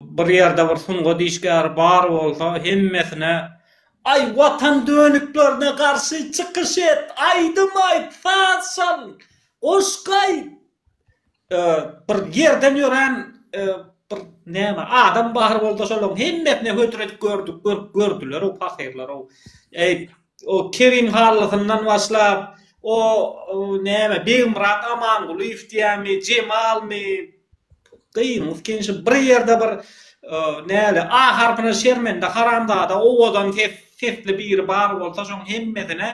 Bir ýerde bir sungat işgäri bar bolsa, hemmesine Aý, Watan dönüklerine garşy çykyş et, aýdym aýt, saz çal, goşgy aýt. Bir ýerden ýören bir näme, adam bar bolsa, şolaryň hemmesine hödür edip gördük, görüp gördüler-ow, pahyrlar-ow. Eý, O Kerim Hallysyndan başlap, o näme Begmyrat Amangulyýew diýýärmi, Jemalmy, gyýyňyz kinşi bir ýerde bir näle A harpyna şermende haramzada owadan sesli biri bar bolsa şoň hemmesine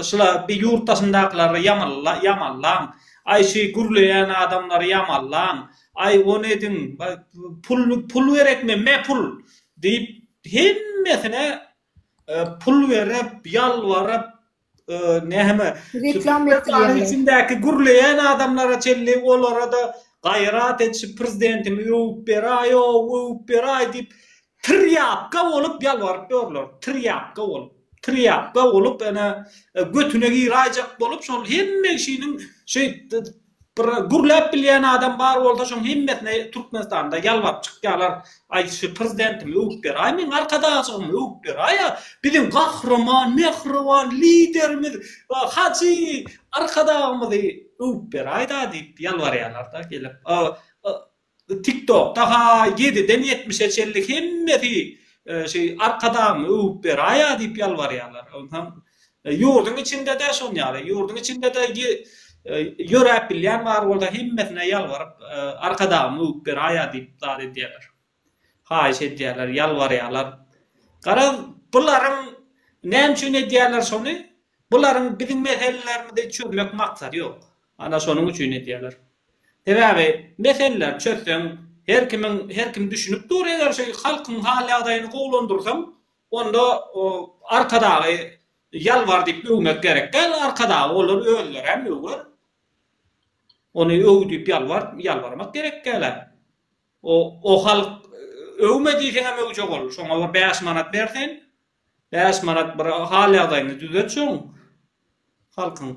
şula bir ýurt daşyndakylary ýamallaň, aý şü gürleýän adamlary ýamallaň, aý ony ediň, pul gerekmi, me pul diýip hemmesine Pul berip, ýalbaryp, näme, reklama içindäki gürleýän adamlara çenli olara-da gaýrat et, şu prezidentimizi öwüp beraý-ow, öwüp beraý diýip, tirýapka bolup ýalbaryp ýörler. Tirýapka bolup. Tirýapka bolup, ene, götüne giraýjak bolup, şol hemme kişiniň şeýtdi. Bir gürläp bilýän adam bar bolsa şoň hemmesine Türkmenistanda ýalbaryp çykýalar aý şu prezidentimi öwüp beraý meň arkadagymymy öwüp beraý a biziň gahryman mähriban liderimiz hajy arkadagymyzy öwüp beraý da diýip ýalbarýalar da gelip Tiktokda haý ýediden ýetmişe çenli hemmesi şu arkadagny öwüp beraýa diýip ýalbarýarlar. Onsaň ýurduň içindede şon ýaly ýurduň içindede ýöräp bilýän bar bolsa hemmesine ýalbaryp arkadagny öwüp beraýa diýip zat edýärler. Haýyş edýärler ýalbarýarlar. Gara bularyň näme üçin edýärler şony? Bularyň biziň meselelerimizi çözmek maksady ýok. Ana şonuň üçin edýäler. Sebäbi meseleleri çözseň her kimiň her kim düşünip dur eger şu halkyň hal ýagdaýyny gowulandyrsaň onda arkadagy ýalbar diýip öwmek gerek däl arkadagy olar özleri hem öwer ony öw diýip ýalbar ýalbarmak gerek däl-ä o o halk öwme diýseň hem öwjek ol şoňa bir bäş manat ber sen bäş manat bir hal ýagdaýyny düzet şoň halkyň.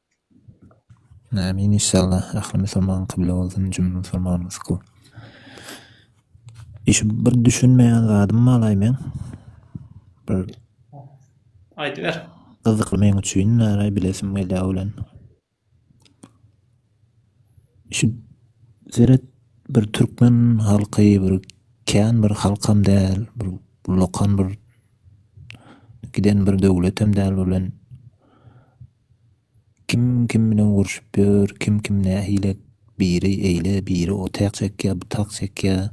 Amin inşallah ahli musulman kybla bolsun jümle musulman musku. Işi bir düşünmeýän zadym malaý men. Bir aýdyber. Gyzykly men üçin näraý bilesim gelýär bilen. Şu seret bir türkmen halky bir kän bir halkam däl, bir lokan bir giden bir döwletem däl bilen. Kim kim bilen urşup ýör, kim kim nähile biri eýle biri o tak çekýär bu tak çekýär.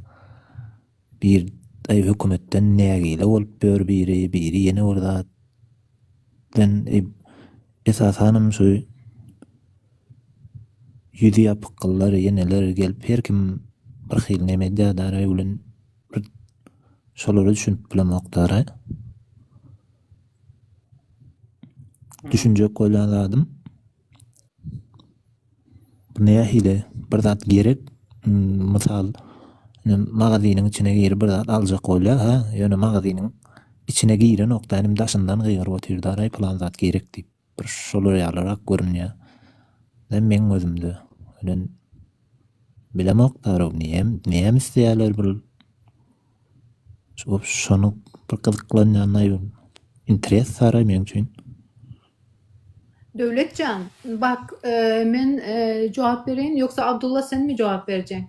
Bir aý hökümetden nägile bolup ýör biri, biri ýene bir zat. Den esasanam şu ýüzi ýapyk gyzlar ýeneler gelip her kim bir hil neme edýär bilen şolara düşünip bilemokdara. Düşünjek bolýan zadym bu nähili bir zat gerek hmm, mysal magaziniň içine girip bir zat aljak bolýar ha ýöne magaziniň içine girenok da inim daşyndan gygyryp otyrda aý plan zat gerek diýip bir şolar ýalyrak görünýär. Ýa meň özümde ölen bilemok tarap niýem niýem isleýärler bir şu şonu bir gyzyklanýanlar ýol. Interes sara meň üçin. Döwletjan, bak, e, men e, jogap bereýin, ýogsa Abdulla senmi jogap berjeň?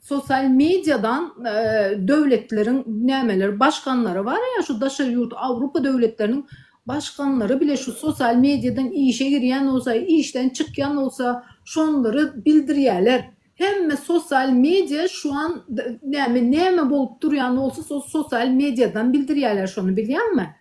Sosial mediadan döwletleriň nämeler başganlary bar ýa şu daşary ýurt awrupa döwletleriniň başganlary bile şu sosial mediadan işe girýän bolsa işden çykýan bolsa şonlary bildirýäler hemme sosial media şuan näme näme bolup durýan bolsa sol sosial mediadan bildirýäler şony bilýäňmi.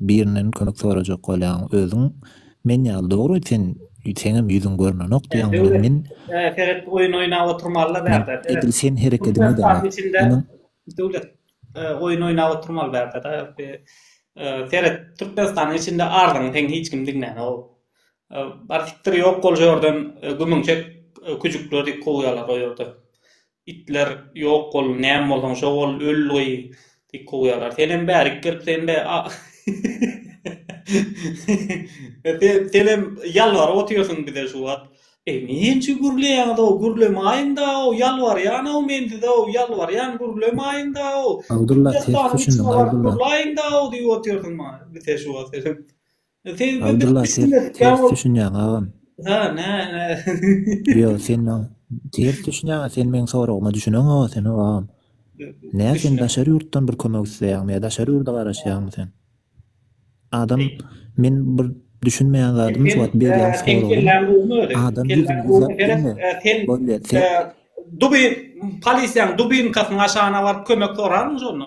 Birinden kömek sorajak bolýaň özüň men ýaly dogry sen seňem ýüzüň görnenok diýýäň muny men He seret oýun oýnap oturmalyda bärde seret. Edil sen herekediňe däl munuň. Döwlet oýun oýnap oturmaly bärdeda seret Türkmenistanyň içinde arzyňy seň hiç kim diňlänok bar sikdir ýok bol şu ýerden gümüň çek küjükler diýip kowýalar o ýerde Itler ýok bol näme bolsaň şo bol öl gyý diýip kowýarlar. Senem bärik gelip sen be senem ýalbaryp otyrsyň bize şu wagt. Eý näme üçin gürleýäňiz-ow gürlemäýiňdä-ow ýalbarýan-ow men size-ow ýalbarýan gürlemäýiňdä-ow. Abdulla ters düşündiň Abdulla. Gürläýiňdä-ow diýip otyrsyň maňa bize şu wagt senem. Abdylla sen ters düşünýäň agam. Ýok sen maňa ters düşünýäňä sen meň soragyma düşüneňoga sen agam. Nä sen daşary ýurtdan bir kömek isleýäňmi ýa daşary ýurda garaşýaňmy sen? Adam men bir düşünmeýän zadym şu wagt berýän soragym adam ýüzüni gizläp bilme bolýa sen dubin polisiýaň dubinkasynyň aşagyna baryp kömek sorarmyň şonda?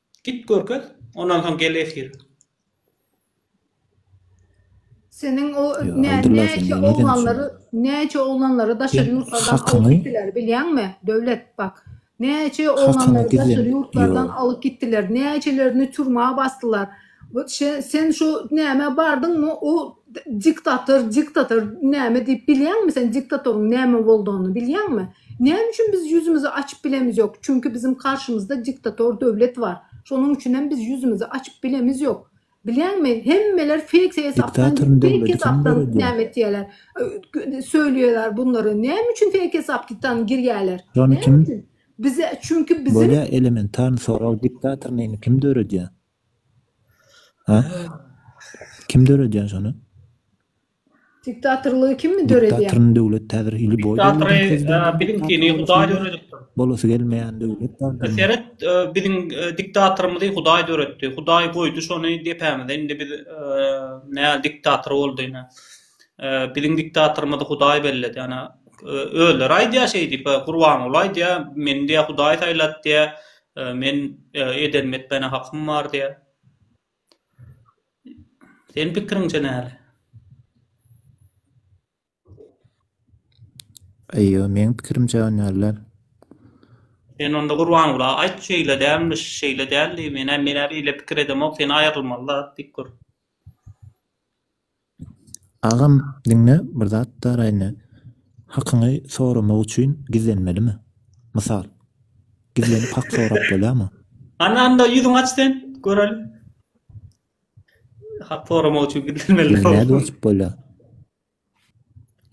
Git görkez, ondan soň gel efir. Seniň o näçe oglanlary näçe oglanlary daşary ýurtlardan alyp gitdiler bilýäňmi Döwlet bak näçe oglanlary daşary ýurtlardan alyp gitdiler näçelerini türmä basdylar Ot şe sen şu nämä bardyňmy u diktator diktator näme diýip bilýäňmi sen diktatoryň näme boldugyny bilýäňmi näme üçin biz ýüzümizi açyp bilemiz ýok çünki biziň karşymyzda diktator döwlet bar şonuň üçin hem biz ýüzümizi açyp bilemiz ýok bilýäňmi hemmeler fake hesapdan fake hesapdan näme etýäler söýleýäler bunlary näme üçin fake hesapdan girýäler näme üçin bize çünki biziň bolýa elementarny sorag diktator neyni kim döredýä. Ha? Kim döredýär şony? Diktatorlygy kim mi döredýär? Diktatorun döwlet täzir hili boý. Diktatori biziňkini Hudaý döredipdir. Bolasy gelmeýän döwlet bar. Seret, biziň diktatorymyzy Hudaý döretdi. Hudaý goýdy şony depämize. Indi biz nä diktator boldy ine. Biziň diktatorymyzy Hudaý belledi. Ana, özleri aýdýar şeý diýip, Gurbanguly aýdýar, meni diýýär Hudaý saýlady diýýär. Men ederim etmäne hakym bar diýýär. Seniň pikiriňçe näle? Eýýo meň pikirimçe hünärler. Sen onda Gurbangula aýt şeýle dälmiş, şeýle däldi, menä menä beýle pikir edemok, sen aýrylmaly zat diýip gör. Agam diňe bir zat da Raine hakyňy soramak üçin gizlenmelimi? Mysal. Gizlenip hak sorap bolýamy? Hany anda ýüzüňi aç sen göreli. Hak soramak üçin gizlenmeli. Ýüzüňi nädip açyp bolýar?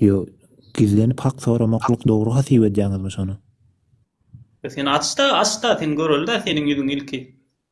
Ýo gizlenip hak soramaklyk dogry hasip edýäňizmi şony? Sen aç da aç da sen göreli da seniň ýüzüňi ilki.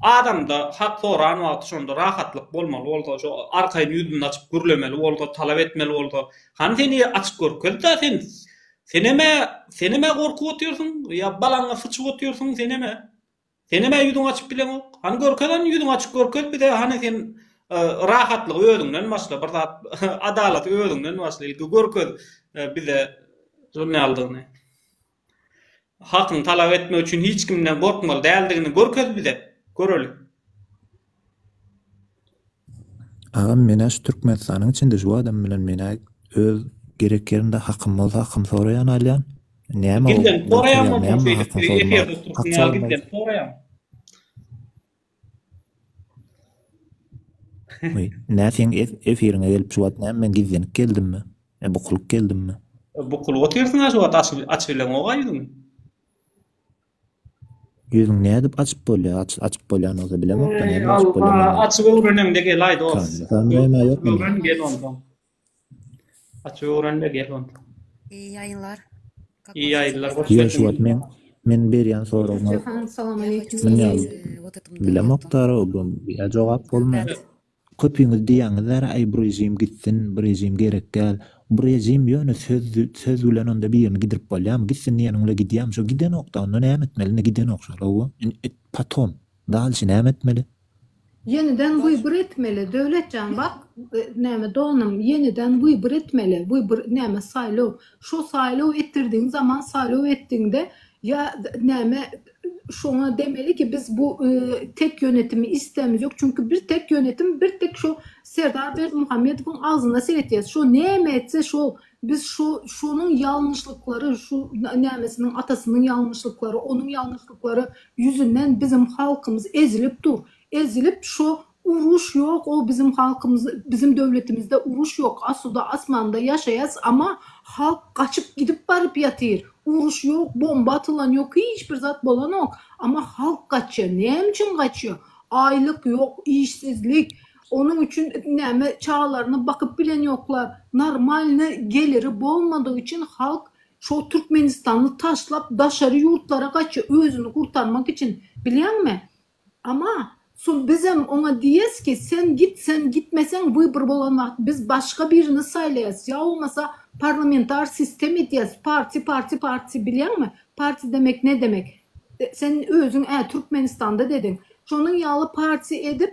Adamda hak soran wagty şonda rahatlyk bolmaly bolsa, şo arkaýyn ýüzüni açyp gürlemeli bolsa, talap etmeli bolsa, hany seni açyp görkezda sen, senem-ä, senem-ä gorkup otyrsyň, ýa balaňa syçyp otyrsyň, senem-ä, senem-ä ýüzüňi açyp bileňok, hany görkez hany ýüzüňi açyp görkez bize hany sen rahatlygy özüňden başla, bir zat adalaty özüňden başla ilki görkez bize şuny ýalydygyny. Hakyny talap etmek üçin hiç kimden gorkmaly däldigini görkez bize, göreli. Agam menä şu Türkmenistanyň içinde şu adam bilen menä öz gerek ýerimde hakym bolsa hakym soraýan alýan. Näme ol? Gitden soraýan bolsaň şeýdip efirde oturyp näme gitden soraýan. Nä seň efiriňe gelip şu wagt näme men gizlenip geldimmi? E bukulyp geldimmi? Bukulyp otyrsyň-a şu wagt açyp açyp bileňok-a ýüzüňi. Ýüzüňi nädip açyp bolýar? Açyp açyp bolýan bolsa bilemokda nädip açyp bolýar? Açyp öwreneňde gel aýdos. Öwren gel onda. Açyp öwrenle gel onda. İyi yayınlar. İyi yayınlar. Hoş Ýöne şu wagt men men berýän soragyma münýän bilemok dara bu ýa jogap bolmaýar. Köpüňiz diýýäňizler aý bu režim gitsin bu režim gerek däl. Bu režim ýöne söz söz bilen onda birini gidirip bolýamy gitsin diýeniň bilen gidýämi şo gidenokda onda näme etmeli indi gidenok şol hawa indi et potom dalşi näme etmeli. Ýeniden wybr etmeli Döwletjan bak näme doganym ýeniden wybr etmeli wybr näme saýlaw şo saýlaw etdirdiň zaman saýlaw etdiňde ýa näme şoňa demeli ki biz bu tek ýönetimi islämizok çünki bir tek ýönetim bir tek şo Serdar Berdimuhamedowyň agzyna seretýäs şo näme etse şo Biz şu, şonuň ýalňyşlyklary, şu nämesiniň atasynyň ýalňyşlyklary, onuň ýalňyşlyklary ýüzünden biziň halkymyz ezilip dur. Ezilip şo uruş ýok, o biziň halkymyz, biziň döwletimizde uruş ýok, asuda asmanda ýaşaýas, ama halk gaçyp gidip baryp ýatyr. Uruş ýok, bomba atylan ýok, hiç bir zat bolanok, ama halk gaçýa. Näme üçin gaçýa? Aýlyk ýok, işsizlik, Onuň üçin näme çagalaryna bakyp bilen ýoklar. Normalny geliri bolmadygy üçin halk şo Türkmenistany taşlap daşary ýurtlara gaçýa özüni gurtarmak üçin bilýäňmi? Ama son bizem oňa diýes ki sen git sen gitmeseň wybr bolan wagt biz başga birini saýlaýas ýa bolmasa parlamentar sistem edýäs parti parti parti bilýäňmi parti demek ne demek sen özüň ä Türkmenistanda dediň şonuň ýaly parti edip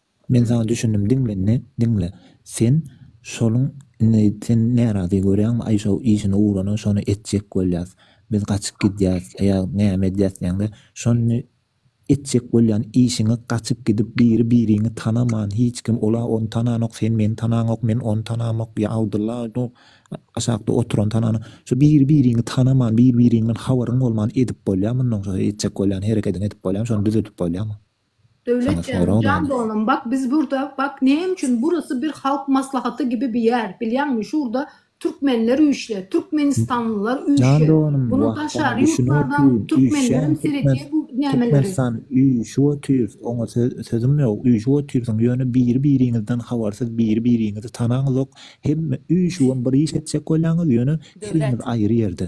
Men saňa düşündim diňle indi diňle sen şoluň indi sen närazy görýäňmi aýşow işini ugrana şony etjek bolýas biz gaçyp gidýäs ýa näme edýäs diýäňde şony etjek bolýan işiňi gaçyp gidip biri biriňi tanaman hiç kim ola ony tananok sen meni tanaňok men ony tanamok ýa Abdylla ony aşakda oturan tanana şo biri biriňi tanaman biri biriňden habaryň bolman edip bolýa mundan şo etjek bolýan herekediňi edip bolýamy şony düzedip bolýamy. Döwlet janam jan doganam bak biz burda bak näme üçin burasy bir halk maslahaty gibi bir ýer bilýäňmi şurda türkmenler üýşle türkmenistanlylar üýşe bunu daşary ýurtlardan türkmenlerem seredýä bu nämeleri. Türkmenistan üýşüp otyr oňa sözüm ýok üýşüp otyrsyň ýöne biri biriňizden habarsyz biri biriňizi tanaňyzok hemme üýşübem bir iş etjek bolýaňyz ýöne hemmiz aýry ýerde.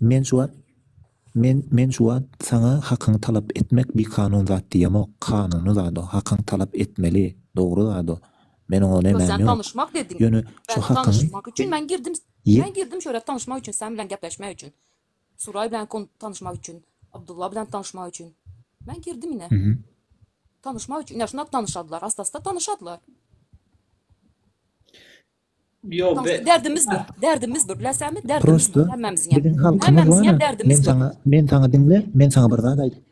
Men şu wagt Men Men şu wagt saňa hakyňy talap etmek bikanun zat diýemok, kanuny zat o, hakyňy talap etmeli, dogry zat o, men oňa Ýöne nämäm sen ýok. tanyşmak dediň. Ýöne şu Bäh, hakyňy tanyşmak üçin men girdim, Ýe. men girdim şu ýere tanyşmak üçin, sen bilen gepleşmek üçin. Suraý bilen kon tanyşmak üçin, Abdulla bilen tanyşmak üçin. Men girdim ine. Mhm. Tanyşmak üçin, ine şunda tanyşadylar, asta-asta tanyşadylar. Soňusy derdimiz bir, derdimiz bir, läsemi derdimiz bir, hemmämiziňem, hemmämiziňem derdimiz bir. Men saňa diňle, men saňa bir zat aýdaýyn.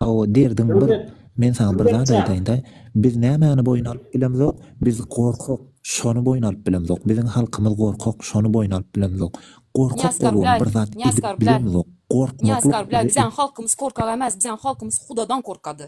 Hawa, derdiň bir, men saňa bir zat aýdaýyn-da, biz nämäni boýun alyp bilemzok, biz gorkak, şony boýun alyp bilemzok, biziň halkymyz gorkak, şony boýun alyp bilemzok. Gorkak bolubam bir zat edip bilemzok, gorkmaklyk bize. Nýazkar bile, biziň halkymyz korkak emas, biziň halkymyz hudadan korkady.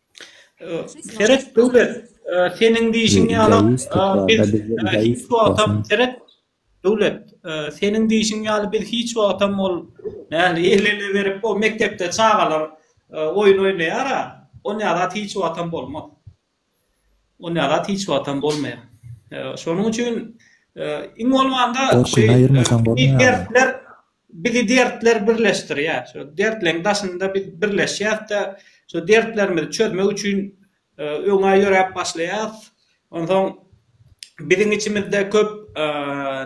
Seret döwlet seniň diýişiň ýaly biz hiç wagtam seret döwlet seniň diýişiň ýaly biz hiç wagtam ol nähili elini berip o mekdepde çagalar oýun oýnaýar a on ýalat hiç wagtam bolmaz on ýalat hiç wagtam bolmaýar şonuň üçin iň bolmanda şu dersler Bizi dertler birleşdirýär. Şo dertleň daşynda biz birleşýäs-de, şo dertlerimizi çözmek üçin öňe ýöräp başlaýas. Onsoň biziň içimizde köp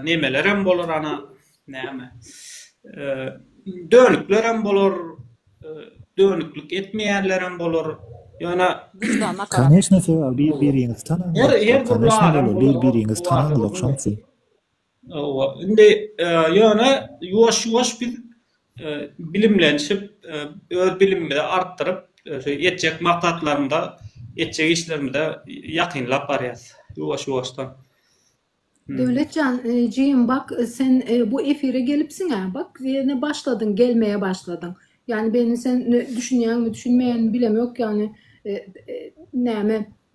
nemelerem bolar, ana, näme, dönüklerem bolar, dönüklik etmeýänlerem bolar. Ýöne. Koneçne, siz bir-biriňizi tanaňyz. Her, her bir zadyň. Koneçne, bir-biriňizi tanaňyz, ogşaňsyz. Hawa, indi ýöne ýuwaş-ýuwaş biz bilimlenişip, öz bilimimizi artdyryp, etjek maksatlarymyza, etjek işlerimize ýakynlap barýas ýuwaş-ýuwaşdan. Döwlet jan, jigim bak, sen bu efire gelipsiň-ä, bak, ýene başladyň, gelmege başladyň. Ýani, meni sen düşünýäňmi, düşünmeýäňmi bilemok, ýani, näme,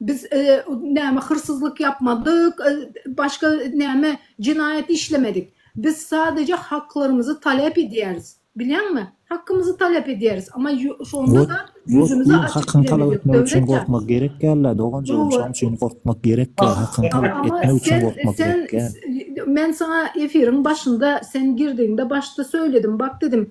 Biz näme hyrsyzlyk ýapmadyk, başga näme jenaýat işlemedik. Biz sadeje haklarymyzy talep edýäris. Bilýäňmi? Hakymyzy talep edýäris. Amma şonda-da ýüzümizi açyp bilemedik. Ýok, ýok, hakyňy talap etmek üçin gorkmak gerek dälä, doganjygym, şoň üçin gorkmak gerek däl. Hakyňy talap etmek üçin gorkmak gerek däl. Men saňa efiriň başynda, sen girdigiňde başda söyledim, bak dedim,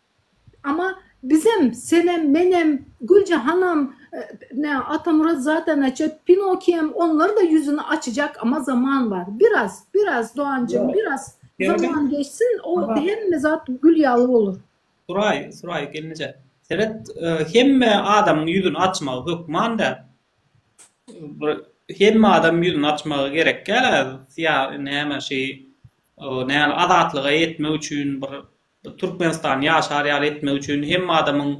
Ama bizem senem menem Gülje hanam ne Atamurat zaten açet Pinokiýem onlar da ýüzüni açacak ama zaman bar biraz biraz Doganjyň biraz zaman geçsin o hemme zat gül ýaly bolar. Suraý Suraý gelneje seret hemme adamyň ýüzüni açmagy hökman däl bir hemme adam ýüzüni açmagy gerek däl näme şeý näme azatlyga ýetmek üçin bir Bu Türkmenistan ýaşar ýaly etmek üçin hemme adamyň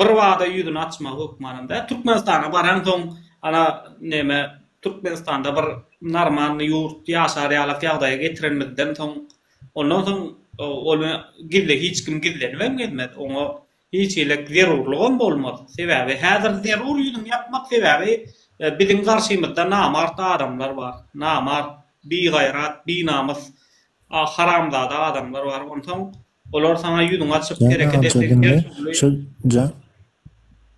birbada ýüzüni açmagy hökmanynda. Türkmenistana baransoň, ana, näme, Türkmenistanda bir normalny ýurt, ýaşar ýalak ýagdaýa getirenimizden soň, ondan soň ony gizle hiç kim gizlenibem gezmez. Oňa Hiç hili zerurlygam bolmaz. Sebäbi häzir zerur ýüzüňi ýapmak sebäbi biziň garşymyzda namart adamlar bar. Namart, bigaýrat, binamys, haramzada adamlar bar. Onsoň olar saňa ýüzüňi açyp hereket etseň her dürli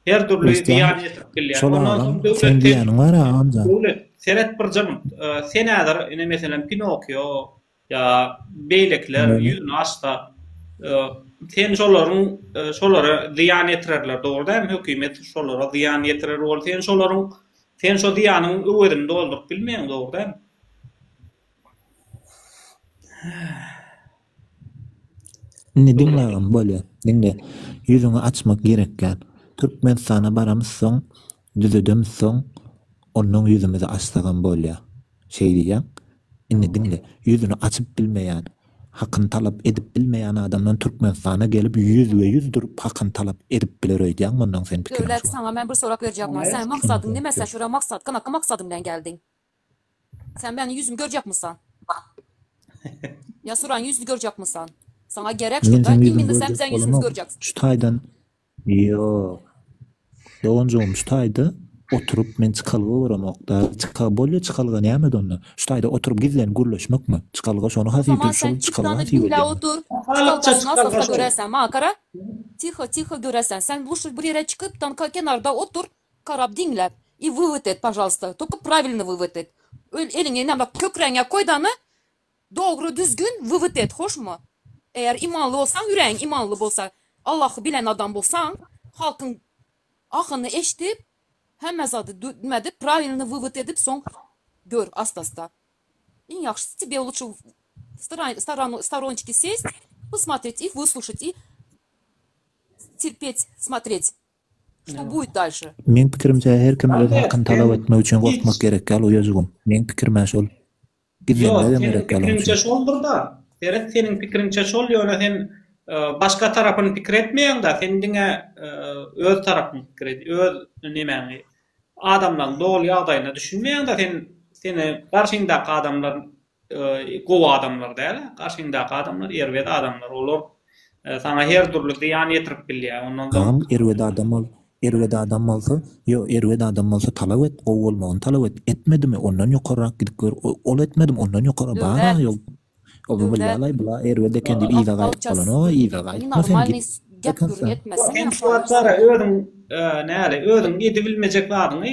her dürli zyýan ýetirip bilýär. Ondan soň döwlet diýýäniň bar-a Amjan. Döwlet seret bir jyň. Sen häzir ine meselem Pinokio, Ýa beýlekiler ýüzüni açsa sen şolaryň şolara zyýan ýetirerler dogry dämi hökümet şolara zyýan ýetirer bol sen şolaryň sen şo zyýanyň öwezini dolduryp bilmeýäň dogry dämi. Indi diňle agam bolýa diňle ýüzüňi açmak gerek däl türkmenistana baramyzsoň Düzedemz soň, onnoň ýüzümizi açsagam bolýa. Şeý diýýäň. Indi diňle, ýüzüni açyp bilmeýän, hakyny talap edip bilmeýän adamdan Türkmenistana gelip ýüzbe-ýüz durup hakyny talap edip biler öýdýäňmi onnoň seň pikiriň şu. Döwlet, saňa men bir sorag berjekmi? Sen maksadyň nime sen şu ýere maksat, kynakgy maksadyň bilen geldiň? Sen meniň ýüzümi görjekmisan? Ýa Suraň ýüzüni görjekmisan? Saňa gerek şu, da, iň indi sen biziň ýüzümizi görjeksin. Şu taýdan. Ýok. Doganjygym şu taýda oturyp men çykalga görämokda. Çyka bolýa çykalga näme onda? Şu taýda oturyp gizlenip gürleşmekmi? Çykalga şony has iyi Saman sen çykalga has iyi diňläp bolýa. otur. Çykalga şuny asasda göräsen maňa gara. Tiho tiho göräsen sen luşşy bir ýere çykyp tam kenarda otur garap diňläp i wywod et pažalsta tolko pravilno wywod et öl eliňi näme kökräňe koý dany Dogry düzgün wywt et hoşmy. Eger imanly bolsaň ýüregiň imanly bolsa Allahy bilen adam bolsaň halkyň ahyny eşdip hemme zady nime edip prawilny wywt edip soň gör astasta iň ýagşysy tebe luçe w storonçiki sest posmotret i wysluçet i terpet smotret što buit dalşe. Meň pikirimçe her kim öz hakyny talap etmek üçin gorkmak gerek ýal uýajygym meň pikirime şol. Ýok, seniň pikiriňçe şoldur-da. Seret, seniň pikiriňçe şol, ýöne sen başga tarapyny pikir etmeýäň-de, sen diňe öz tarapyňy pikir et, öz nemäňi, adamlaryň doly ýagdaýyna düşünmeýäň-de sen, seni garşyňdaky adamlar gowy adamlar däl-ä, garşyňdaky adamlar erbet adamlar, olar Saňa her dürli zyýan ýetirip bilýär. Ondan soň. Gam erbet adam bol. Erbet adam bolsa, ýo, erbet adam bolsa talap et, gowy bolmagyny talap et. Etmedimi, ondan ýokarrak gidip gör. Ol etmedim, ondan ýokary bar-a ýol. Ol billaýlaý, bula erbet eken diýip yza gaýdyp bolan. O, yza gaýtma sen, git. Ýok, hemsuwat bar-a, özüň, näle, özüň edibilmejek zadyňy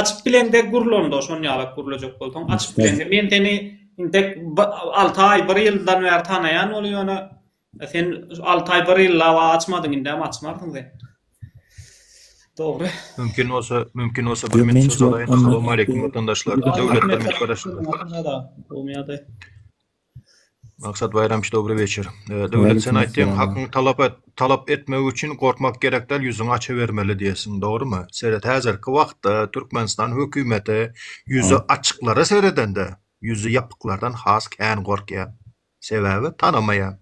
Açyp bilende gurl onda şon ýalak gurlejek bolsaň açyp bilende men seni intek alty aý bir ýyldan bäri tanaýan boly ýöne sen alty aý bir ýyl laba açmadyň indem açmarsyň sen Dogry. Mümkin bolsa, mümkin bolsa bir minut söz alaýyn. Assalamu alaykum watandaşlar. Döwlet hizmetgaraşlary. Bu ýerde. Maksat Baýramyç dobry weçer. Döwlet sen aýtdyň hakyňy talap et, talap etmek üçin gorkmak gerek däl ýüzüňi açabermeli diýesiň dogrymy? Seret häzirki wagtda Türkmenistan hökümeti ýüzi açyklara seredende ýüzi ýapyklardan has kän gorkýar. Sebäbi tanamaýar.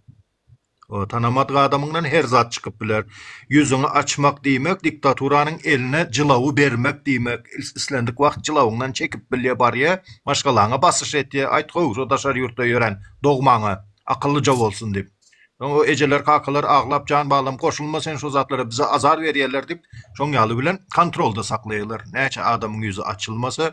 O, tanamadyk adamyňdan her zat çykyp biler. Ýüzüňi açmak diýmek, diktaturanyň eline jylawy bermek diýmek. Islendik wagt jylawyňdan çekip bilýär, barýar, maşgalaňa basyş etýär, Aýt gowşut daşary ýurtda ýören dogmaňa, akyllyja bolsun diýip. Soň o ejeler, kakalar aglap, Jan balam, goşulma sen şo zatlara, bize azar berýärler diýip, şoň ýaly bilen kontrolda saklaýarlar. Näçe adamyň ýüzi açylmasa,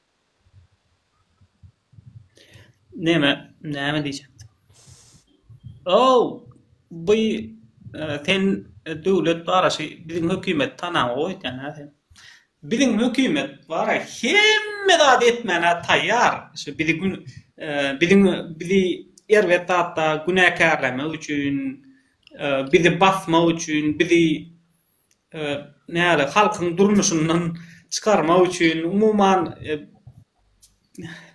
Näme näme diýjekdim. Ow bu sen döwlet baraşy biziň hökümet tanaň goýýana sen. Biziň hökümet bara hemme zady etmäne taýýar şu bizi gün biziň bizi erbet zatda günäkärlemek üçin bizi basmak üçin bizi näle halkyň durmuşyndan çykarmak üçin umuman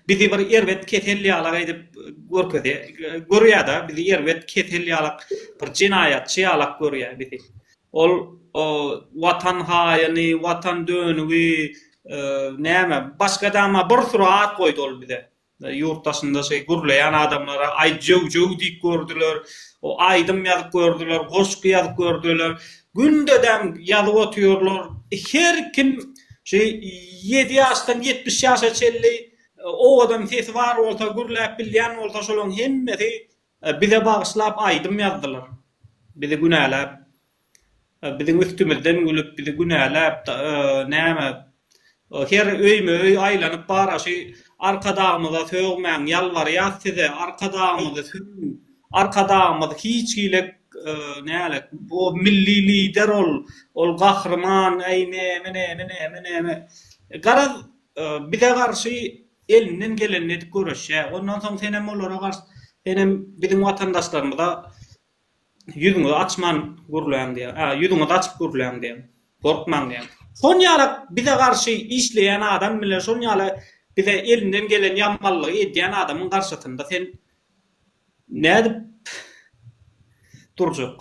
bizi bir erbet kesel ýalak edip görkezýä görýäda bizi erbet kesel ýalak bir jenaýatçy ýalak görýä bizi ol watan haýyny watan dönügi näme başga dama bir surat goýdy ol bize. Ýurt daşynda şeý gürleýän adamlara aý jöw-jöw diýip gördüler, aýdym ýazyp gördüler, goşgy ýazyp gördüler. Gündedem ýazyp otyrlar. Her kim şu ýedi ýaşdan ýetmiş ýaşa çenli owadan sesi bar bolsa, gürläp bilýän bolsa şolaryň hemmesi bize bagyşlap aýdym ýazdylar. Bizi günäläp. Biziň üstümizden gülüp, bizi günäläp, näme, her öýme-öý aýlanyp bar-a, şu Arkadagymyza sögmäň, ýalbarýas size, Arkadagymyzy sögüň, Arkadagymyz hiç hili, nälet, ol milli lider ol, ol gahryman, äý, näme-näme, näme-näme. Garaz, bize garşy elinden gelenini edip göreşýä. Ondan soň senem olara garşy, senem biziň watandaşlarymyza Ýüzüňizi açman gürläň diýýär. A, ýüzüňizi açyp gürläň diýýär. Gorkmaň diýýär. Şol ýaly bize garşy işleýän adam bilen şol ýaly bize elinden gelen ýamanlygy edýän adamyň garşysynda sen nädip durjak?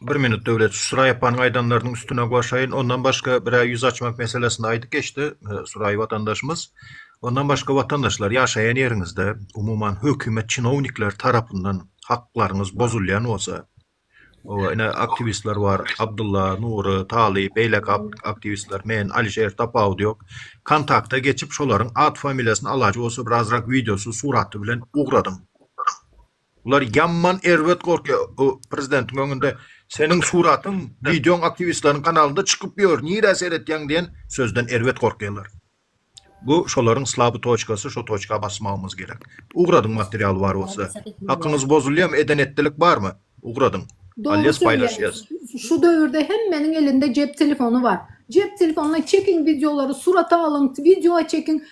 Bir minut Döwlet Suraýeppanyň aýdanlarynyň üstüne goşaýyn. Ondan başga bir-ä ýüz açmak meselesini aýdyp geçdi Suraý watandaşymyz. Ondan başga watandaşlar ýaşaýan ýeriňizde umuman hökümet çinownikleri tarapyndan haklaryňyz bozulýan bolsa, oba ine aktiwistler bar Abdylla, Nury, Talyp, beýleki aktiwistler, men, Alişer tapawudy ýok. Kontakta geçip şolaryň at-familiýasyny alaýjy bolsa bir azrak wideosy, suraty bilen ugradyň. Olar ýaman erbet gorkýa o prezidentiň öňünde seniň suratyň wideoň aktiwistleriň kanalynda çykyp ýör nirä seretýäň diýen sözden erbet gorkýalar bu şolaryň slaby toçkasy şo toçka basmagymyz gerek ugradyň material bar bolsa hakyňyz bozulýamy eden etdilik barmy ugradyň Dogry söýýäňiz şu döwürde hemmeniň elinde jep telefony bar jep telefonyna çekiň wideolary surata alyň wideoa çekiň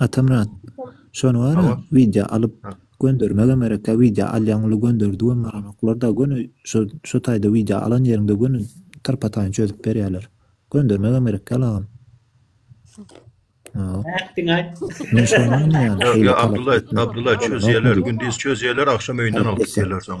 Atamyrat şony bara Hawa. wideo alyp Ha. göndermegem gerek ýa wideo alýaň uly gönderdigem baranoklar da göni şo şo taýda wideo alan ýeriňde göni tyrpataýyny çözüp berýäler göndermegem gerek ýal agam. Hawa. Näk diňe aýt. Men şony aňýan Ýok, şeýle ýok, talap Abdulla, etmek. Abdulla Ýok, çözýärler, ýok. gündiz çözýärler, agşam öýünden alyp Talap etýär. gitýärler soň.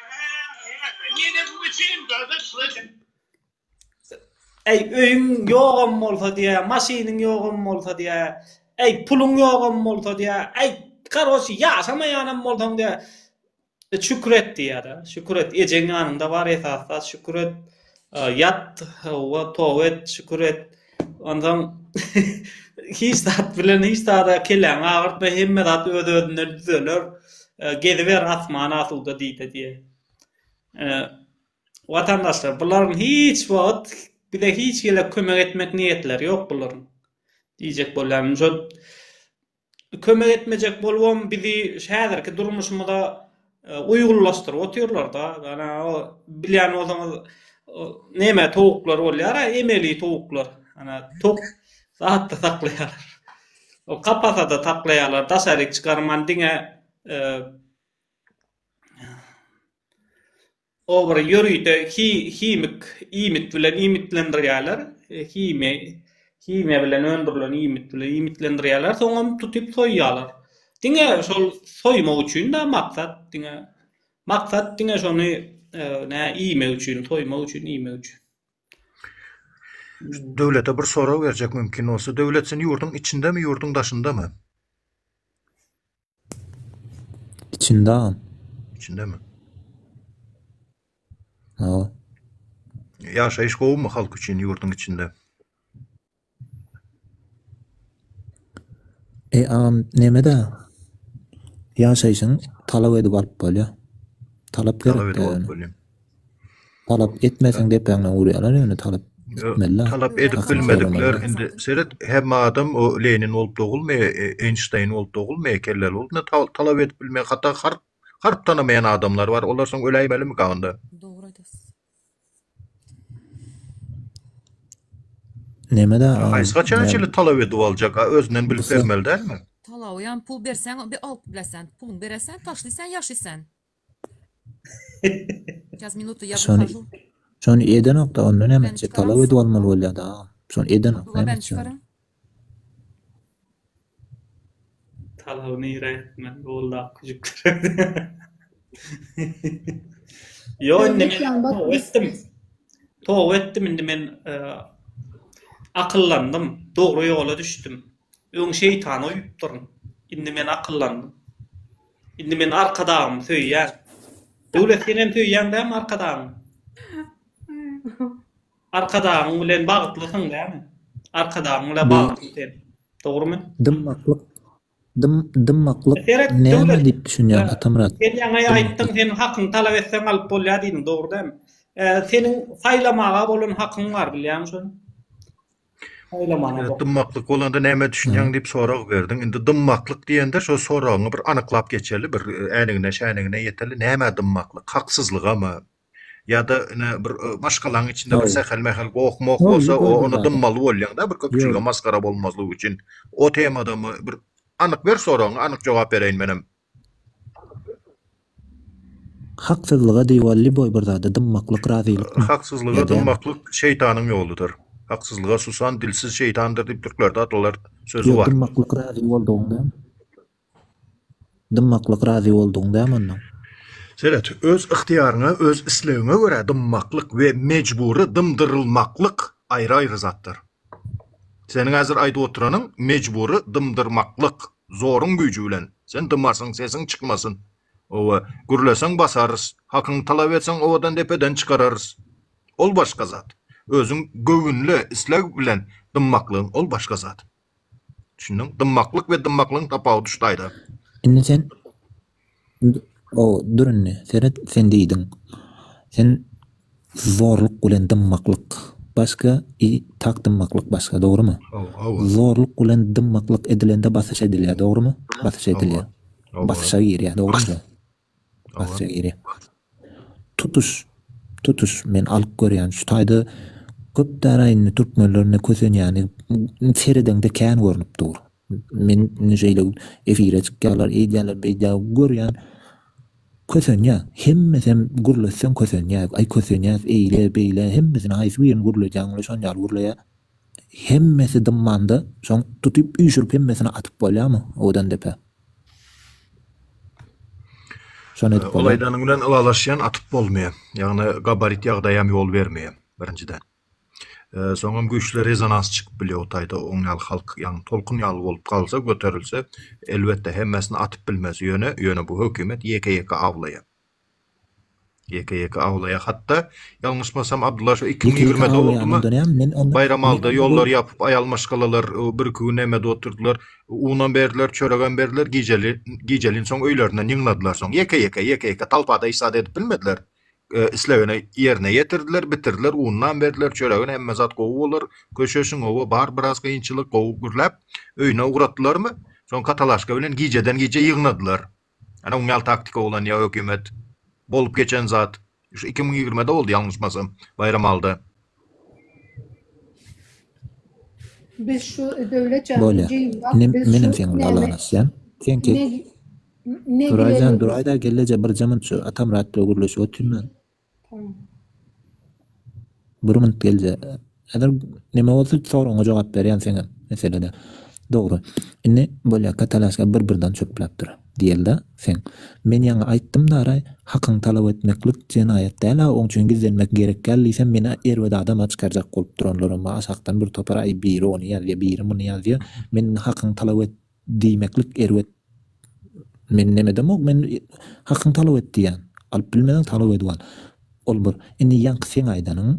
Äý, öýüň ýogam bolsa diýä, maşynyň ýogam bolsa diýä, äý, puluň ýogam bolsa diýä, äý, karoç, ýaşamaýanam bolsaň diýä, şükür et diýä-de, şükür et, ejeň ýanyňda bar esas zat, şükür et. Ýat, hawa, toba et, şükür et. Onsoň hiç zat bilen hiç zada kelläňi agyrtma, hemme zat öz-özünden düzeler. Geziber asman asuda diýse diýe. Watandaşlar, bularyň hiç wagt bize hiç gezek kömek etmek niýetleri ýok bularyň. Diýjek bolýanym şol. kömek etmejek bolubam bizi häzirki durmuşymyza uýgunlaşdyryp otyrlarda ana o bilýän bolsaňyz neme towuklar bolýar emeli towuklar ana tok zatda saklaýarlar o kapasada saklaýarlar daşaryk çykarman diňe Olary ýörite himik iýmit bilen iýmitlendirýärler, himiýa bilen öndürilen iýmit bilen iýmitlendirýärler, soňam tutup soýýarlar. Diňe şol soýmak üçin-dä maksat, diňe maksat diňe şony nä iýmek üçin, soýmak üçin, iýmek üçin. Döwlete bir sorag berjek mümkin bolsa. Döwlet sen ýurduň içindemi, ýurduň daşyndamy? İçinde agam. İçinde mi? Hawa. Yaşayış gowumy halk üçin yurdun içinde? E agam neme de yaşayışyň talap edip alyp bolýar. Talap gerek. Talap edip alyp bolýar. Talap etmeseň depäňden urýarlar ýöne talap etmeli. Talap edip bilmedikler indi seret hemme adam o Lenin bolup dogulmy Eýnşteýn bolup dogulmy kelleli bolup ne talap edip bilmeýän hatda harp harp tanamaýan adamlar bar olar soň öläýmelimi ka onda. Dogry aýdasy. Nemede Haýsy haçan şeýle talap edip aljak a özünden bilip bermeli dälmi. Talabyam pul berseň bir alyp bileseň puluň bereseň taşlyseň ýaşyseň. Şony şony edenokda onda näme etjek talap edip almaly bolýada agam şony edenok näme etjek onda. Talaby nirä etmeli boldy akgüjükler. Ýok indi men toba etdim. Toba etdim indi men akyllandym. Dogry ýola düşdüm. Öň şeýtana uýupdyryn. Indi men akyllandym. Indi men arkadagymy söýýän. Döwlet senem söýýäň dämi arkadagyňy? Arkadagyň bilen bagtlysyň dämi? Arkadagyň bilen bagtly sen. Dogrymy? Dymmaklyk dym dymmaklyk Seret näme döwlet. diýip düşünýäň Atamyrat? Sen ýaňy aýtdyň seniň hakyňy talap etseň alyp bolýar diýdiň dogry dämi? Seniň saýlamaga bolan hakyň bar bilýäňmi şony? Saýlamana dymmaklyk bolanda nämä düşünýäň diýip sorag berdiň. Indi dymmaklyk diýende şo soragyňy bir anyklap geçeli, bir äňigine-şäňigine ýeteli. Nämä dymmaklyk? Haksyzlygamy? Ýa-da ine bir maşgalaň içinde bir sähel-mähel goh-moh bolsa, ony dymmaly bolýaň-da, bir köpçülige masgara bolmazlyk üçin. O temadamy? Bir anyk ber soragyňy, anyk jogap bereýin menem. Haksyzlyga diwar liboý bir zada dymmaklyk razylykmy? Haksyzlyga dymmaklyk şeýtanyň ýoludyr. Haksyzlyga susan dilsiz şeýtandyr diýip türklerde atalar sözi bar. Ýok dymmaklyk razy boldugyň däl. Dymmaklyk razy boldugyň dämi onda? Seret, öz ygtyýaryňa, öz islegiňe görä dymmaklyk we mejbury dymdyrylmaklyk aýry-aýry zatdyr. Seniň häzir aýdyp oturanyň mejbury dymdyrmaklyk, zoruň güýji bilen. Sen dymasyň, sesiň çykmasyn. Oba, gürleseň basarys, hakyňy talap etseň obadan depeden çykararys. Ol başga zat. Özüň göwünli, isleg bilen dymmaklygyň ol başga zat. Düşündiň? Dymmaklyk we dymmaklygyň tapawudy şu taýda. Indi sen O, dur indi, seret, sen diýdiň. Sen zorluk bilen dymmaklyk başga, i tak dymmaklyk başga, dogrumy? Hawa. Zorluk bilen dymmaklyk edilende basyş edilýär, dogrumy? Basyş edilýär. Basyşa girýär, dogrumy? Basyşa girýär. Tutuş, tutuş men alyp görýän şu taýda köp dara indi türkmenlerine kösenýäni seredeňde kän görnüp dur. Men indi şeýle efire çykýarlar, eýdýärler, beýdýär görýän kösenýä. Hemmesi hem gürletseň kösenýä. Aý kösenýäs eýle, beýle hemmesini haýsy birini gürledýäň, şony ýaly gürleýä. Hemmesi dymmanda, soň tutyp üýşürip hemmesini atyp bolýamy owadan depe? Şony edip bolýar. Ylaýdanyň bilen ylalaşýan atyp bolmaýar. Ýagny gabarit ýagdaý hem ýol bermeýär birinjiden. Soňam güýçli rezonans çykyp bilýär o taýda oň ýaly halk ýagny tolkun ýaly bolup galsa göterilse elbetde hemmesini atyp bilmez ýöne ýöne bu hökümet ýeke ýeke awlaýar. Ýeke ýeke awlaýar hatda. Ýalňyşmasam Abdylla şu iki müň ýigrimide boldumy? Baýramalda ýollary ýapyp aýal maşgalalar bir iki gün näme-de otyrdylar. Unam berdiler, çöregem berdiler. Gijeli gijeliň soň öýlerinden ýygnadylar soň. Ýeke ýeke ýeke ýeke talpada hiç zat edip bilmediler. Islegini ýerine ýetirdiler, bitirdiler. Unnam berdiler, çöregini hemme zat gowy bolar. Köşeşiň oba bar biraz kynçylyk gowy gürläp öýüne ugratdylarmy? Soň katalaşka bilen gijeden gije ýygnadylar. Ene uňýal taktika bolan ýa hökümet bolup geçen zat şu iki müň ýigrimide boldy ýalňyşmasam Baýram alda. Biz şu döwlet jan Bolýa. jigim bak Inem, biz menem şu seň Allaňy näme isýän. Sen ket. ne ne Nuraýjan, bilelim. duraýda gelleje bir jemint şu Atamyrat bilen gürleşip otyryn men. Bir minut geljek. Häzir neme bolsa soragyňa jogap berýän seňem meselede. Dogry. Indi bolýaka talaşka bir birden çöpläp dur. Diýelde seň. Men ýaňy aýtdym dara hakyň talap etmeklik jenaýat däla oň üçin gizlenmek gerek däl diýsem meni erbet adama çykarjak bolup duranlaram bar aşakdan bir topar aý biri ony ýazýa biri muny ýazýa men hakyň talap Diýmeklik erbet Men nemedemok men hakyň talap et diýýän. Alyp bilmeseň talap edip al. Ol bir indi ýaňky seň aýdanyň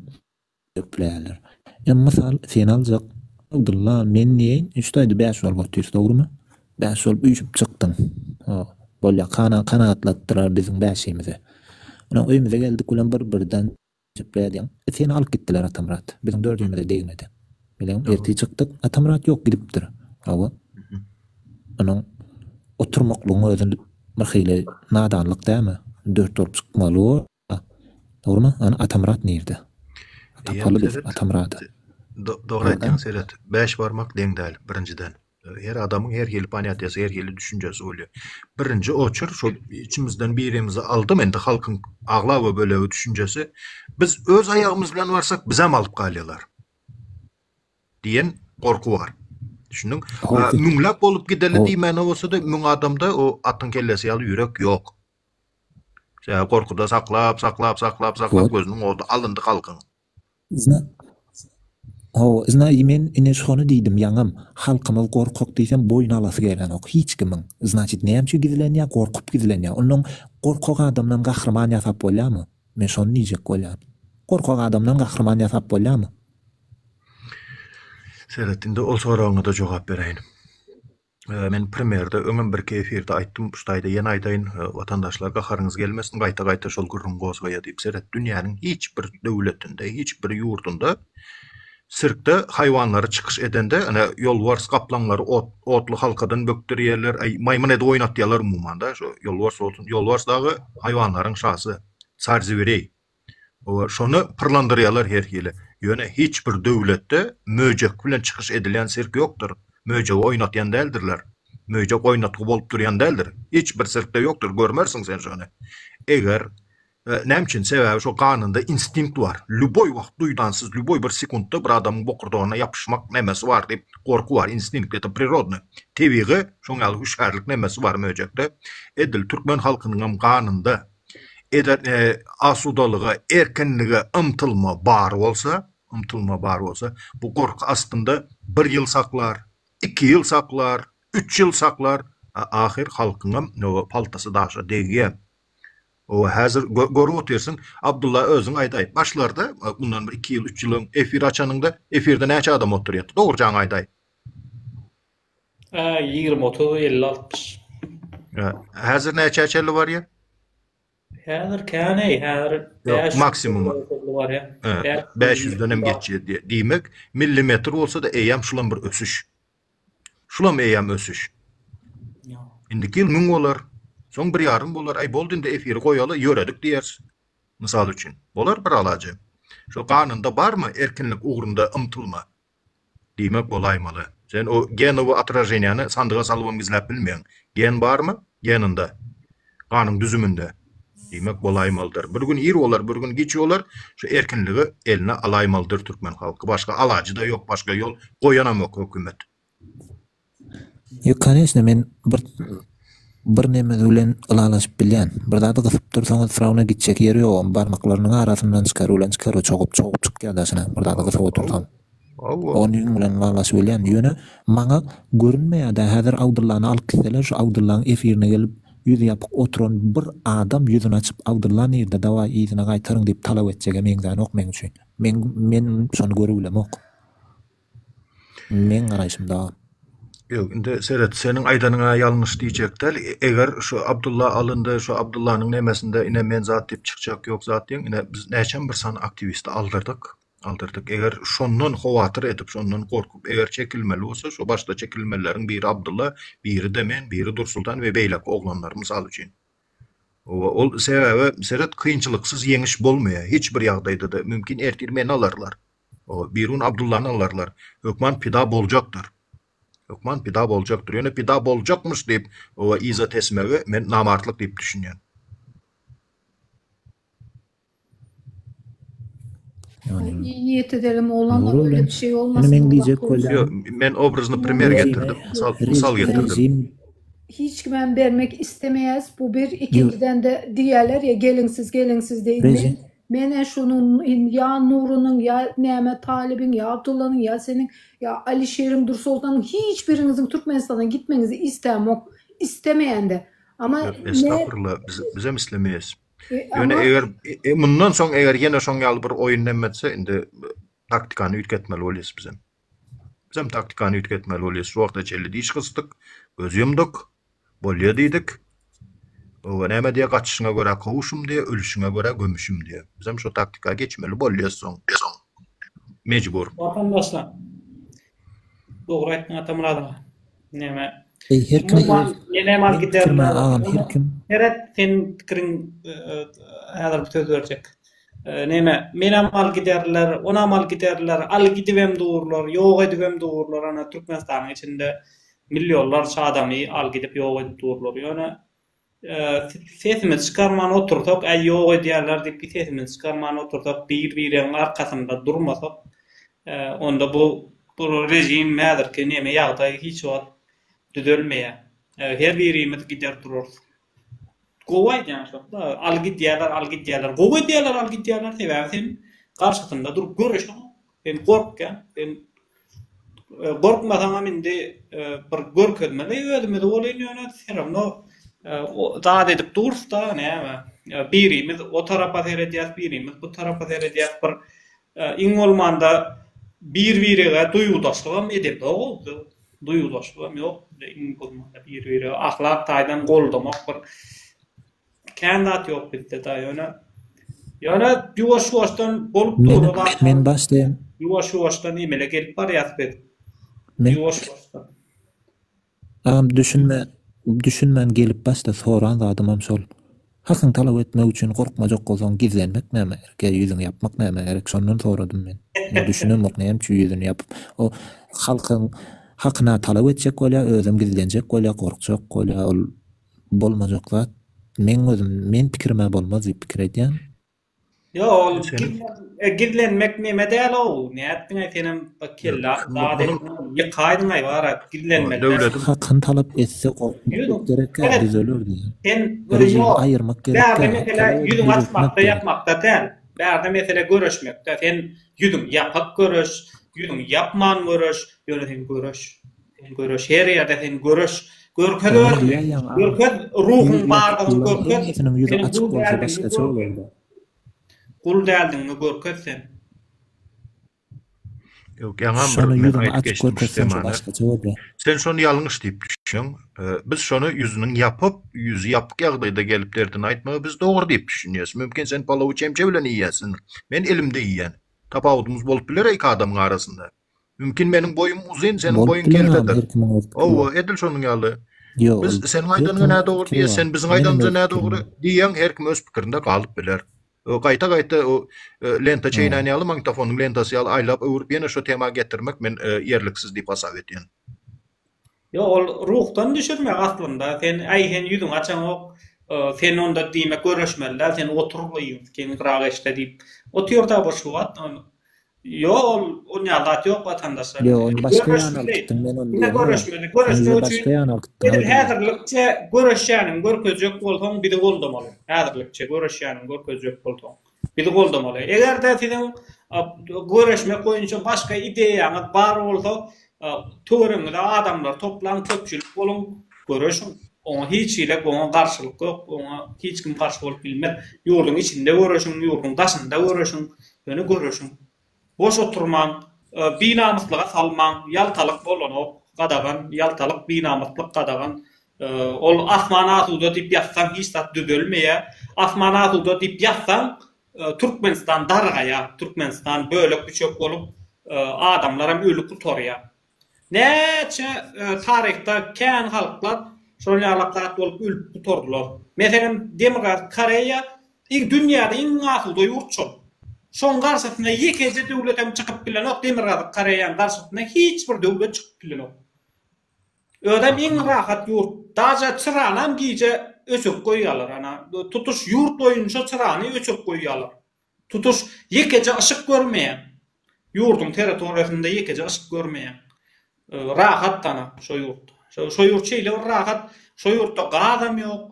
ökläler. Ýa mysal seni aljak Abdylla men diýeýin üç taýda bäş bolup otyrys dogrymy? Bäş bolup üýşüp çykdyň. Ho bolýa kana kanagatlatdylar biziň bäşimizi. Ynha öýümize geldik bilen bir birden Sepre edýäň. Seni alyp gitdiler Atamyrat. Biziň dördügimize degmedi. Biziň ertir çykdyk. Atamyrat ýok gidipdir. Hawa. Onuň oturmaklygyň özi bir hili nadanlyk dälmi? Dört bolup çykmaly bor-a. Dogrymy? Ana Atamyrat nirde? Tapaly biz Atamyrady. Dogry aýtýaň Seret. Bäş barmak deň däl, birinjiden. Her adamyň her hili panyatýasy, her hili düşünjesi bolýar. Birinji oçer şol içimizden birimizi aldym, indi halkyň aglaba bölegi düşünjesi, biz öz aýagymyz bilen barsak, bizem alyp galýarlar diýen gorky bar. Düşündiň? Müňläp bolup gideli diýmäne bolsa-da, müň adamda o atyň kellesi ýaly ýürek ýok. Gorkuda saklap, saklap, saklap, saklap gözüniň oty alyndy halkyň. Zna, hawa, zna i men ine şony diýdim ýaňam, halkymyz gorkak diýsem boýun alasy gelenok hiç kimiň. Znaçit näme üçin gizlenýär, gorkup gizlenýär. Onnoň gorkak adamdan gahryman ýasap bolýarmy? Men şony diýjek bolýan. Gorkak adamdan gahryman ýasap bolýarmy? Seret indi ol soragyňa-da jogap beräýin. Men primerde öňem birki efirde aýtdym, şu taýda ýene aýdaýyn, watandaşlar gaharyňyz gelmesin, gaýta-gaýta şol gürrüň gozgaýa diýip, seret, dünýäniň hiç bir döwletinde, hiç bir ýurdunda sirkde haýwanlary çykyş edende, ine, ýolbars, gaplaňlary ot, otly halkadan bökderýärler, aý, maýmyn edip oýnatýarlar umuman-da, şu ýolbars bolsun, ýolbars dagy haýwanlaryň şasy, carzibireý, Şony pyrlandyrýarlar her hili. Ýöne hiç bir döwletde möjek bilen çykyş edilýän sirk ýokdur. Möjegi oýnatýan däldirler. Möjek oýnatgy bolup durýan däldir. Hiç bir sirkde ýokdur, görmersiň sen şony. Eger Näme üçin? Sebäbi şo ganynda instinkt bar. Lýuboý wagt duýdansyz, lýuboý bir sekuntda bir adamyň bokurdagyna ýapyşmak nemesi bar diýip, gorky bar, instinkt, ete prirodny, tebigy şoň ýaly hüşgärlik nemesi bar möjekde. Edil türkmen halkynyňam ganynda Eger asudalyga, erkinlige ymtylma bar bolsa, ymtylma bar bolsa, bu gorky astynda bir ýyl saklar, iki ýyl saklar, üç ýyl saklar, a ahyr halkyňam oba paltasy daşa degýär. Oba häzir görüp otyrsyň, Abdylla özüň aýdaý, başlarda, mundan bir iki ýyl, üç ýyl öň efir açanyňda, efirde näçe adam otyrýardy, dogrujaňy aýdaý? Ä ýigrimi otuz elli altmyş. Ä häzir näçä çenli barýar? Häzir käni häzir bäş maksimum barýar. Ä bäş ýüzden hem geçýär diýe. Diýmek, millimetr bolsa da eýýäm şulam bir ösüş. Şulam eýýäm ösüş. Indiki ýyl müň bolar. Soň bir ýarym bolar. Aý boldy indi efiri goýaly ýöredik diýer. Mysal üçin. Bolar bir alaja. Şu ganunda barmy erkinlik ugrunda ymtylma? Diýmek bolaýmaly. Sen o genowy otraženýany sandyga salybam gizläp bilmeýäň. Gen barmy? Geninde. Ganyň düzüminde. Diýmek bolaýmalydyr. Bir gün ir bolar, bir gün giç bolar, şu erkinligi eline alaýmalydyr türkmen halky. Başga alajy-da ýok, başga ýol goýanamok hökümet. Ýok koneçna men bir bir neme bilen ylalaşyp bilýän. Bir zady gysyp dursaňyz frawna gitjek ýeri ýogam barmaklarynyň arasyndan çykaryp bilen çykaryp çogup çogup çykýar daşyna bir zady gysyp otursaň. Hawa. Ony ýüň bilen ylalaşyp bilýän. Ýöne maňa görünmeýärde häzir Abdyllany alyp gitseler şu Abdyllaň efirine gelip ýüzi ýapyk oturan bir adam ýüzini açyp Abdylla nirde dawaý yzyna gaýtaryň diýip talap etjege meňzänok meň üçin. Meň men şony görübilemok. Meň garaýşymda. Ýok, indi seret, seniň aýdanyňa ýalňyş diýjek däl. Eger şu Abdulla alyndy, şu Abdullanyň nemesinde ine men zat diýip çykjak ýok zat diýen, ine biz näçem bir sany aktiwisti aldyrdyk, aldyrdyk. Eger şondan howatyr edip, şondan gorkup, eger çekilmeli bolsa, şu başda çekilmelileriň biri Abdulla, biri-de men, biri Dursultan we beýleki oglanlar, mysal üçin. Oba, ol sebäbi seret, kynçylyksyz ýeňiş bolmaýar, hiç bir ýagdaýda-da. Mümkin ertir meni alarlar. Birun Abdullany alarlar. Hökman pida boljakdyr. Hökman pida boljakdyr. Ýöne pida boljakmyş diýip yza tesmegi men namartlyk diýip düşünýän. Niýeti degim oglanlar öýle bir şey bolmasyn. Ýöne men diýjek bolýan. Men obrazyny primer getirdim. Mysal getirdim. Hiç kim hem bermek istemeýäs. Bu bir ikinjiden-de diýýärler ýa gelinsiz gelinsiz diýip. Menä şonuň indi ýa Nurynyň, ýa näme Talybyň, ýa Abdullanyň, ýa seniň, ýa Alişeriň, Dursoltanyň hiç biriňiziň Türkmenistandan gitmegiňizi istämok, istemeýän-de. Ama Ýok, ne estagfurullah, biz, bizem islemeýäs. E, Ýöne ama- eger e, mundan soň eger ýene şoň ýaly bir oýun näme etse, indi e, taktikany üýtgetmeli bolýas bizem. Bizem taktikany üýtgetmeli bolýar. Sporta çenli diş gysdyk, göz ýumduk. Bolýa diýdik. Oba näme diýýär, gaçyşyňa görä kowuşym diýýär, ölüşiňe görä gömüşim diýýär. Bizem şo taktika geçmeli bolýas soň. Mejbur. Watandaşlar. Dogry aýtdyň Atamyrat aga. Näme? Eý, her kim öz Nenem al gider. Seret, sen pikiriň häzir bir söz berjek. Näme? Menem al giderler, onam al giderler, al gidibem durlar, ýok edibem durlar, ana Türkmenistanyň içinde millionlarça adamy al gidip ýok edip durlar. Ýöne Sesimizi çykarman otursak, äý ýok edýärler diýip sesimizi çykarman otursak, bir-biregiň arkasynda durmasak, onda bu režim häzirki neme ýagdaý hiç wagt düzelmeýär. Her birimiz gider durarys. Gowy aýdýan şo-da, aly gidýärler, aly gidýärler. Gowy edýärler, aly gidýärler, sebäbi sen garşysynda durup göreşiň. Sen gorkýaň, sen gorkmasaňam indi bir görkezmeli özümizi welin ýöne se rawno zat edip durusda näme birimiz o tarapa seredýäs birimiz bu tarapa seredýäs bir iň bolmanda bir birege duýgudaşlygam edemzok ozda duýgudaşlygam ýok iň bolmanda bir birege ahlak taýdan goldamak bir Kän zat ýok bizde da ýöne ýöne ýuwaş ýuwaşdan bolup dur zat. Men başlaýan. Ýuwaş ýuwaşdan emele gelip barýas biz. Ýuwaş ýuwaşdan. Agam düşünme düşünmän gelip başda soran zadym hem şol. Hakyň talap etmek üçin gorkmajak bolsaň gizlenmek näme gerek ýa ýüzüňi ýapmak näme gerek şondan soradym men. Muňa düşünemok näme üçin ýüzüni ýapyp o halkyň hakyna talap etjek bolýa özem gizlenjek bolýa gorkjak bolýa ol bolmajak zat. Meň özüm, men pikirimä bolmaz diýip pikir edýän. Ýok, ol gizlen, gizlenmek neme däl-ow. Nätdiňaý senem bir kelle zat etdiň, ýykaýdyňaý bara gizlenmeli. Döwletiň hakyny talap etse gorkutmak gerekkä düzelerdi. Sen özüňi aýyrmak gerekkä. Bärde mesele ýüzüňi açmakda ýapmakda däl. Bärde mesele göreşmekde. Sen ýüzüňi ýapyp göreş, ýüzüňi ýapman göreş, ýöne sen göreş. Sen göreş her ýerde sen göreş görkez özüňi görkez ruhuň bardygyny görkez sen gul däldigiňi görkez gul däldigiňi görkez sen. Ýok ýaňam bir men aýdyp geçdim temany. Sen şony ýalňyş diýip düşünýäň. Biz şony ýüzüniň ýapyp, ýüzi ýapyk ýagdaýda gelip derdini aýtmagy biz dogry diýip düşünýäs. Mümkin sen palawy çemçe bilen iýýärsiň. Men elimde iýýän. Tapawudymyz bolup biler iki adamyň arasynda. Mümkin meniň boýum uzyn, seniň boýuň keltedir. Hawa, edil şonuň ýaly. Biz seniň aýdanyňa nädogry diýýäs, sen biziň aýdanymyza nädogry diýýäň, her kim öz pikirinde galyp biler. Gaýta-gaýta o lenta çeýnän ýaly, magnitofonyň lentasy ýaly aýlap-öwrüp ýene şo tema getirmek men ýerliksiz diýip hasap edýän. Ýok ol ruhdan düşürmek aslynda sen äý sen ýüzüňi açaňok sen onda diýmek görüşmelidäl sen otur gygyrak eşde diýip otyrda bir şu wagt ýok ol onýa zat ýok watandaşlar ýok ony başga ýana alyp gitdim men ony diýen görüşmeli görüşmek üçin başga ýana alyp gitdim häzirlikçe görüşýäniňi görkezjek bolsaň bizi goldamaly häzirlikçe görüşýäniňi görkezjek bolsaň Bizi goldamaly. Eger-de siziň göreşmek boýunça başga ideýaňyz bar bolsa, töweregiňize adamlary toplaň, köpçülik boluň, göreşiň. Oňa hiç hili goňa garşylyk ýok, oňa hiç kim garşy bolup bilmez. Ýurduň içinde göreşiň, ýurduň daşynda göreşiň, ýöne göreşiň. Boş oturmaň, binamyslyga salmaň, ýaltalyk bolanok, gadagan, ýaltalyk, binamyslyk, gadagan, ol asman asuda diýip ýazsaň hiç zat düzelmeýär, asman asuda diýip ýazsaň Türkmenistan dargaýar, Türkmenistan bölek-büçek bolup, adamlaram öli gutarýar. Näçe taryhda kän halklar şol ýalak zat bolup ölüp gutardylar. Meselem, Demirgazyk Koreýa iň dünýäde iň asuda ýurt şol. Şoň garşysyna ýekeje döwlet hem çykyp bilenok, Demirgazyk Koreýaň garşysyna hiç bir döwlet çykyp bilenok. Özem iň rahat ýurt. Daže çyranam gije öçürip goýýarlar, ana tutuş ýurt boýunça çyrany öçürip goýýarlar. Tutuş ýekeje yşyk görmeýäň. Ýurduň territoriýasynda ýekeje yşyk görmeýäň. Rahat dana şo ýurtda. Şo ýurt şeýle bir rahat, şo ýurtda gazam ýok,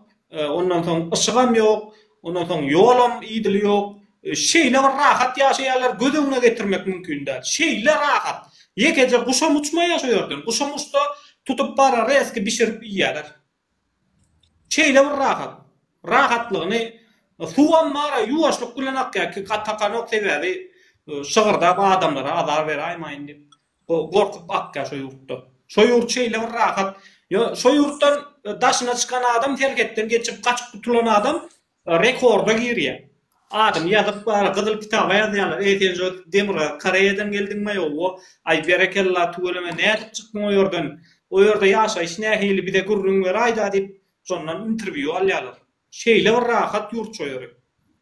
ondan soň yşygam ýok, ondan soň ýolam idili ýok. Şeýle bir rahat ýaşaýarlar, göz öňüne getirmek mümkin däl. Şeýle rahat. Ýekeje guşam uçmaýar şo ýerden. Guşam uçsa, tutup bar reski bişirip iýerler. Şeýle bir rahat. Rahatlygyny Suwam bara ýuwaşlyk bilen akýar ki takanok sebäbi şygyrdap adamlara azar beraýmaýyn diýip gorkup akýar şo ýurtda. Şo ýurt şeýle bir rahat. Ýo şo ýurtdan daşyna çykan adam serhetden geçip gaçyp gutulan adam Rekorda girýär. Adyny ýazyp bar, gyzyl kitaba ýazýarlar. Eý Senjo demirgazyk Koreýadan geldiňmaý owo. Aý berekella tüweleme nädip çykdyň o ýerden. O ýerde ýaşaýyş nähili bize gürrüň beraýda diýip şondan interwýu alýarlar. Şeýle bir rahat ýurt şo ýeri.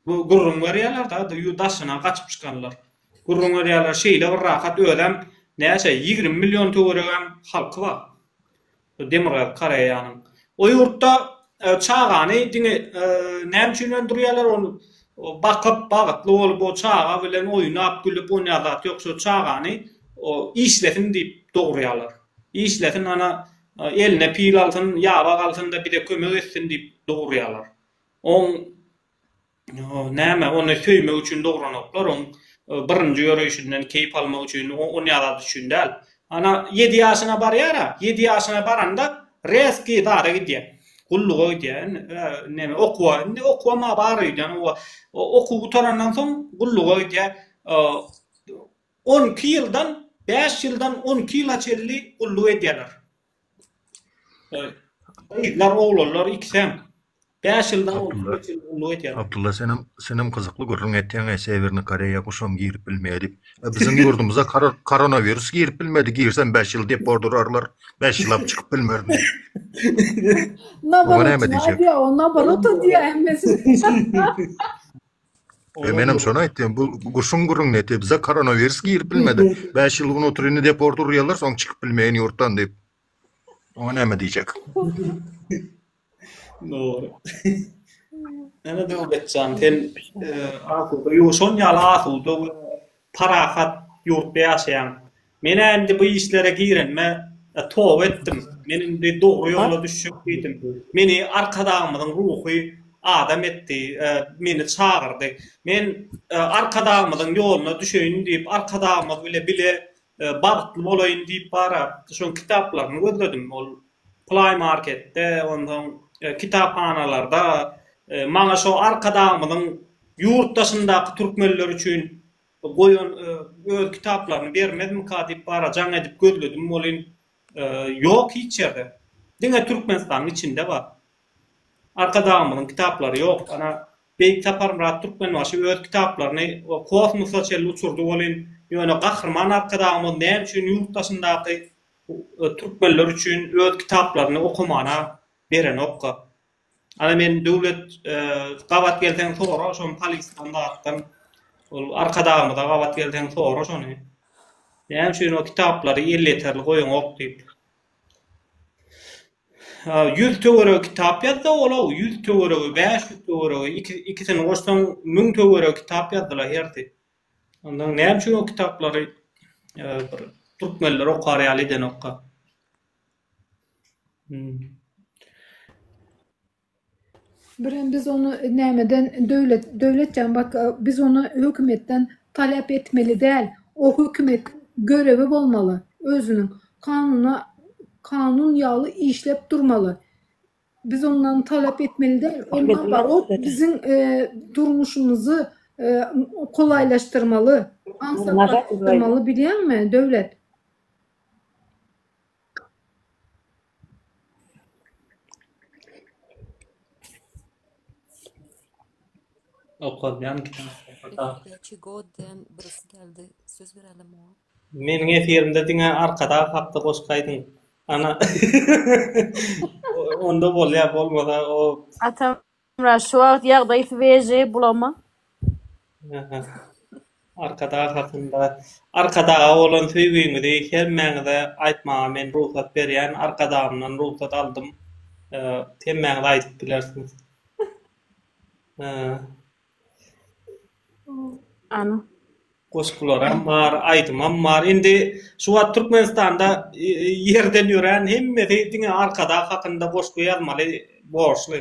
Gürrüň berýärler da ýurt daşyna gaçyp çykanlar. Gürrüň berýärler şeýle bir rahat özem näçe ýigrimi million töweregem halky bar. Demirgazyk Koreýanyň. O ýurtda çagany diňe näme üçin öndürýärler, ony bakyp, bagtly bolup, o çaga bilen oýnap, gülüp, onýan zat ýok. Şo çagany işlesin diýip dogurýarlar. Işlesin, ana, eline pil alsyn, ýaba galsyn-da, bize kömek etsin diýip dogurýarlar. Oň Näme, ony söýmek üçin dogranoklar, oň birinji ýöreýşinden keýp almak üçin, on ýazady üçin däl. Ana, ýedi ýaşyna barýar-a, ýedi ýaşyna baranda rezki zada gidýär. Gulluga gidýär. Näme, okuwa, indi okuwam-a bar öýdýän. Oba, okuw gutarandan soň gulluga gidýär. On iki ýyldan, bäş ýyldan on iki ýyla çenli gulluk edýärler. Gyzlar oglanlar ikisem. Bäş ýyldan bolsa Abdylla senem senem gyzykly gürrüň etýäň e sewerni koreýa guşam girip bilmedi. E biziň ýurdumyza koronawirus girip bilmedi girsem bäş ýyl dep ordurarlar bäş ýyllap çykyp bilmerdi. Nabarotyny aýdýa o nabaroty diýä hemmesi. E, menem şony aýtdym, bu guşuň gurun neti, bize koronawirus girip bilmedi. 5 ýyl gün oturyny deport urýarlar, soň çykyp bilmeýin ýurtdan diýip. Oňa näme diýjek? Dogry. Näme Döwletjan, sen e, asuda, ýo şon ýaly asuda we parahat ýurtda ýaşaýaň. Men-ä indi bu işlere girenime toba etdim. Men indi dogry ýola düşjek diýdim. Meni Arkadagymyzyň ruhy adam etdi, meni çagyrdy. Men Arkadagymyzyň ýoluna düşeýin diýip, Arkadagymyz bile bile bagtly bolaýyn diýip bara şoň kitaplaryny gözledim. Ol Play Marketde, onsoň kitaphanalarda maňa şo Arkadagymyzyň ýurt daşyndaky türkmenler üçin Goýun öz kitaplaryny bermezmika diýip bara jaň edip gözledim welin ýok hiç ýerde. Diňe Türkmenistanyň içinde bar. Arkadagymyzyň kitaplary ýok. Ana Beýik Saparmyrat Türkmenbaşy öz kitaplaryny kosmosa çenli uçurdy welin ýöne Gahryman Arkadagymyz näme üçin ýurt daşyndaky türkmenler üçin öz kitaplaryny okamana berenokka? Ana men Döwlet gabat gelseň sora şo polisdan zatdan ol arkadagymyza gabat gelseň sora şony näme üçin o kitaplary elýeterli goýaňok diýip. Ýüz töweregi kitap ýazdy ol-ow ýüz töweregi bäş ýüz töweregi ikisini goşsaň müň töweregi kitap ýazdylar hersi. Ondan näme üçin o kitaplary bir türkmenler okar ýaly edenokka. Birem biz ony nämeden döwlet döwlet jan bak biz ony hökümetden talap etmeli däl. O hökümet görewi bolmaly özüniň. Kanuna kanun ýaly işlep durmaly. Biz ondan talap etmeli däl. Ol nabarot biziň e, durmuşymyzy e, kolaýlaşdyrmaly, aňsatlaşdyrmaly bilýäňmi döwlet? Okalýan Meniň efirimde diňe Arkadag hakda goşgy aýdyň. Ana. Onda bolýar bolmasa o. Hemra şu wagt ýagdaý sweji bulama. Arkadag hakynda Arkadaga bolan söýgiňizi hemmäňize aýtmaga men rugsat berýän Arkadagymdan rugsat aldym hemmäňiz aýdyp bilersiňiz. Goşgularam bar, aýdymam bar. Indi şu wagt Türkmenistanda ýerden ýörän hemmesi diňe Arkadag hakynda goşgy ýazmaly borçly.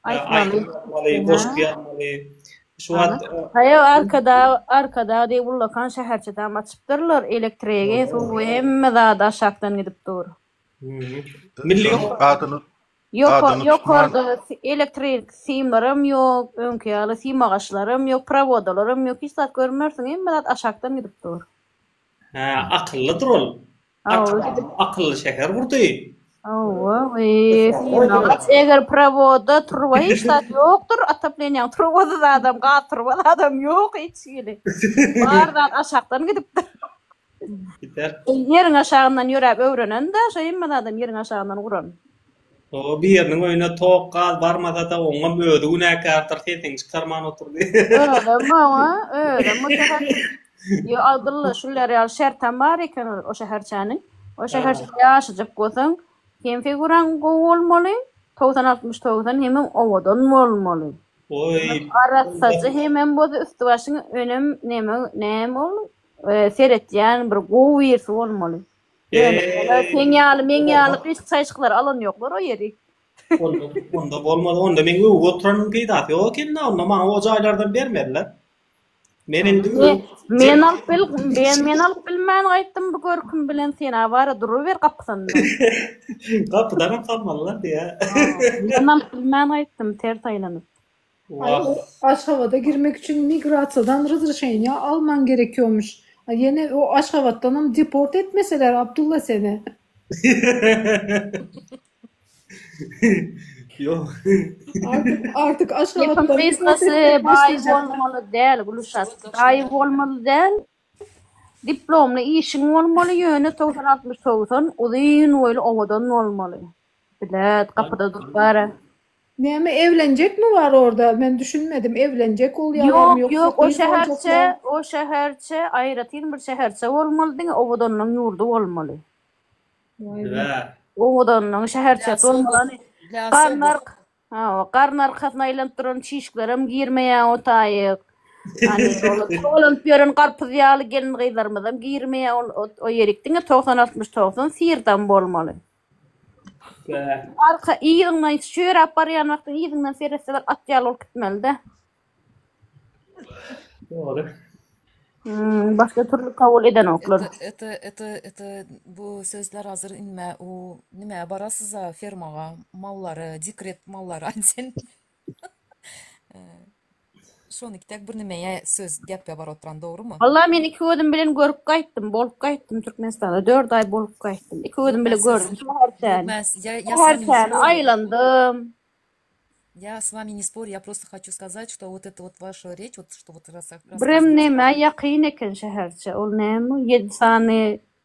Aýdym ýazmaly, goşgy ýazmaly. Şu wagt. Haýo Arkadag, Arkadag diýip ullakan şäherçedem açypdyrlar. Elektrigi, suwy hemme zady aşakdan gidip dur. Milli. Ýoka, Adyny tutman. ýokarda si- elektrik simlaram ýok, öňki ýaly sim agaçlaram ýok, prowodalaram ýok, hiç zat görmersiň, hemme zat aşakdan gidip dur. Hä, akyllydyr ol. Hawa, Arkadag özi- diýip akylly şäher gurdy. Hawa, we sim agaç, eger prowoda truba hiç zat ýokdur, otopleniýaň trubasy zadam, gaz truba zadam ýok hiç hili. Bar zat aşakdan gidipdir. Biter. Ýeriň aşagyndan ýöräp öwrenen-de, şo hemme zadam ýeriň aşagyndan guran. O biriniň öýüne tok, gaz barmasa-da, oňam özi günäkärdir, sesini çykarman oturdy. Özem oňa, özem bu şäher. Ýo, Abdylla, şular ýaly şertem bar eken o şäherçäniň. O şäherçede ýaşajak bolsaň, hem figuraň gowy bolmaly, togsan-altmyş togsan, hemem owadan bolmaly. Oý. Arassaja hemem bolsa üsti-başyň önem neme, näme ol? Seretýän bir gowy birisi bolmaly. Ýöne seň ýaly meň ýaly gyşyk çaýşyklar alan ýoklar o ýeri. Onda bolmaz onda meň öwüp oturanyň peýdasy ýok ekenda onda maňa o jaýlardan bermezler. Men indi Men alyp bil men alyp bilmän gaýtdym bu görkim bilen sen awara duruber gapysynda. Gapydanam salmalylar diýä. Men alyp bilmän gaýtdym ters aýlanyp. Ay o Aşgabada girmek üçin migrasiýadan ryzryşeniýa alman gerekiýomuş. Ay ýene o Aşgabatdanam deport etmeseler Abdulla seni. Ýok. Artyk artyk Gepiň Aşgabatdan deport gysgasy etmek baý başlajaklar. bolmaly däl Gülşat. Baý bolmaly däl. Diplomly işiň bolmaly ýöne togsan altmyş togsan uzyn boýly owadan bolmaly. Bilet gapyda durup bara. Näme evlenjekmi bar orda men düşünmedim evlenjek bolýalarmy Ýok ýoksa ýok o gyz şäherçe boljaklar. o şäherçe aýratyn bir şäherçe bolmaly diňe owadanlygyň ýurdy bolmaly. Waý we. Dibä. Owadanlygyň şäherçesi Ýasy bolmaly ony oba ýasy oba. garnar hawa garny arkasyna aýlanyp duran çişklerem girmeýä o taýyk hany olar togalanyp ýören garpyz ýaly gelin gyzlarymyzam girmeýä ol o ýerik diňe togsan altmyş togsan syrdam bolmaly. Arka yzyňdan çöräp barýan wagtyň yzyňdan seretse bir at ýaly bolup gitmelide. Dogry. Hmm, başga türlü kabul edenoklar. Iti, iti, iti, bu sözler hazır inme, u, nime, barasyza fermaga, mallara, dikret mallara, sen. Şonuki dek bir nimeýe söz gep ýabar oturan dogrymy. Walla men iki gözüm bilen görüp gaýtdym, bolup gaýtdym Türkmenistanda dört aý bolup gaýtdym. Iki gözüm bilen gördüm şäher sen. Şäher sen aýlandym. Ýa s wami ne spor ýa prosta haçu skazat şto wot et wot waşa reç wot şto wot rasak. Birem näme ýakyn eken şäherçe ol näme ýedi sany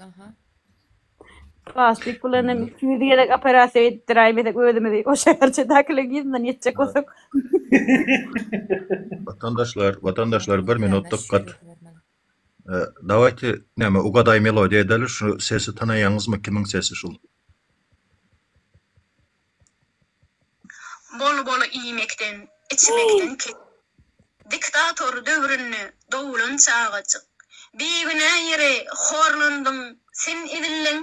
Aha. Plastik bilen hem 200 gezek operasiýa etdiräýmesek özümizi o şäherçedäkileriň ýüzünden ýetjek bolsak. Watandaşlar, watandaşlar bir minut Bermez, dykgat. şeýle bermeli. E, Dawajte näme ugadaý melodiýa edeli şu sesi tanaýaňyzmy kimiň sesi şul? Bol-bol iýmekden, içmekden kesip. Diktator döwründe doglan çagajyk. Bigünä ýere horlandyň sen edildiň.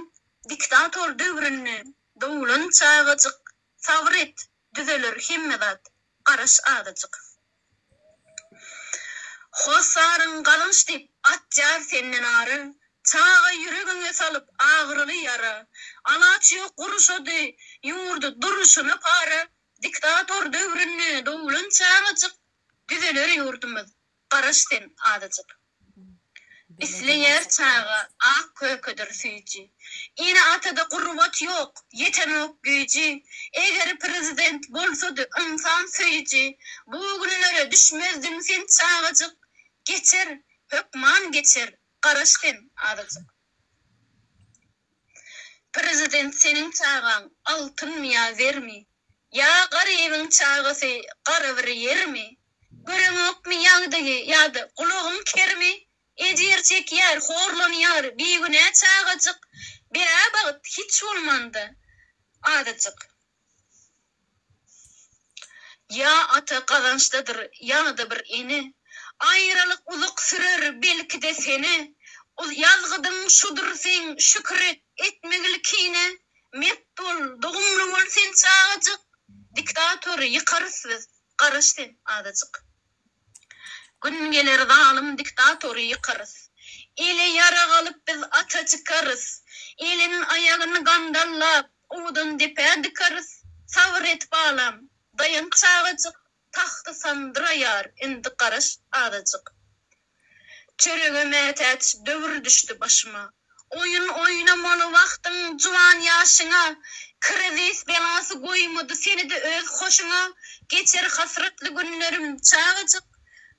Diktator döwründe doglan çagajyk. Sabyr et, düzeler hemme zat, garaş azajyk. Hossaryň galynç diýip atýar senden ary, Çaga ýüregiňe salyp agyryly ýara. Alaç ýok gurşady ýurdy duruşyna para, Diktator döwründe doglan çagajyk, Düzeler ýurdumyz, garaş sen azajyk. Isleýär çaga, ak kökedir süýji. Ene-atada gurbat ýok, ýetenok güýji. Eger prezident bolsady ynsan söýüji, Bu günlere düşmezdiň sen çagajyk. Geçer, hökman geçer, garaş sen azajyk. Prezident seniň çagaň altynmy ýa zermi? Ýa garybyň çagasy gara bir ýermi? Göreňokmy ýagdaýy ýa-da gulagyň kermi, ejir çekýär, horlanýar, bigünä çagajyk, bäbagt hiç bolmanda azajyk. Ýa ata gazançdadyr ýa-da bir ene, aýralyk uzak sürer belki-de sene, ol ýazgydyň şudur seň şükür et, etmek ilkine, mert bol, dogumly bol sen çagajyk, diktator ýykarys biz, Garaş sen azajyk. Gün geler zalym diktatory ýykarys. Ele ýarag alyp biz ata çykarys. Elin aýagyn gandallap owdan depä dykarys. Sabyr et balam, daýan çagajyk. Tagty sandyraýar indi garaş azajyk. Çörege mätäç döwür düşdi başyma. Oýun oýnamaly wagtyň juwan ýaşyňa, Krizis belasy goýmady seni-de öz hoşuňa, Geçer hasratly günlerim çagajyk,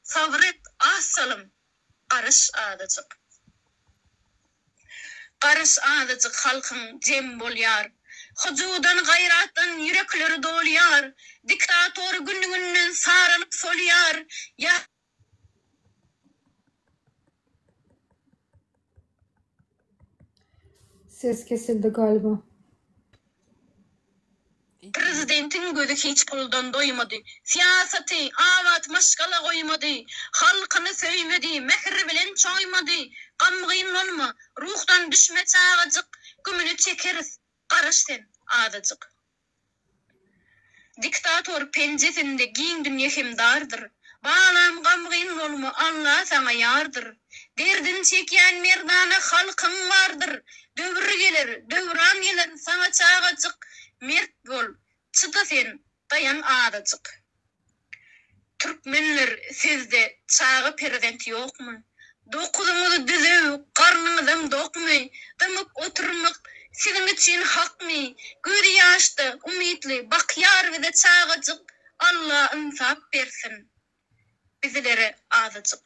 Sabyr et, az salym, garaş azajyk. Garaş azajyk halkyň jem bolýar, Hyjuwdan, gaýratdan ýürekleri dolýar, Diktator gün-günden saralyp solýar, Ýa Ses kesildi galiba. Prezidentiň gözi hiç puldan doýmady. Syýasaty, abat maşgala goýmady. Halkyny söýmedi, mähir bilen çoýmady. Gamgyn bolma, ruhdan düşme çagajyk, Gümüni çekeris, garaş sen azajyk. Diktator penjesinde giň dünýe hem dardyr, Balam gamgyn bolma Alla saňa ýardyr, Derdin çekýän merdana halkyň bardyr, Döwür geler, döwran geler saňa çagajyk, Mert bol, çyda sen, daýan azajyk. Türkmenler sizde çaga perzent ýokmy? Dokuzyňyzy düzüw garnyňyzam dokmy? Dymyp oturmak siziň üçin hakmy? Gözi ýaşda umytly bakýar bize çagajyk Alla ynsap bersin bizlere azajyk.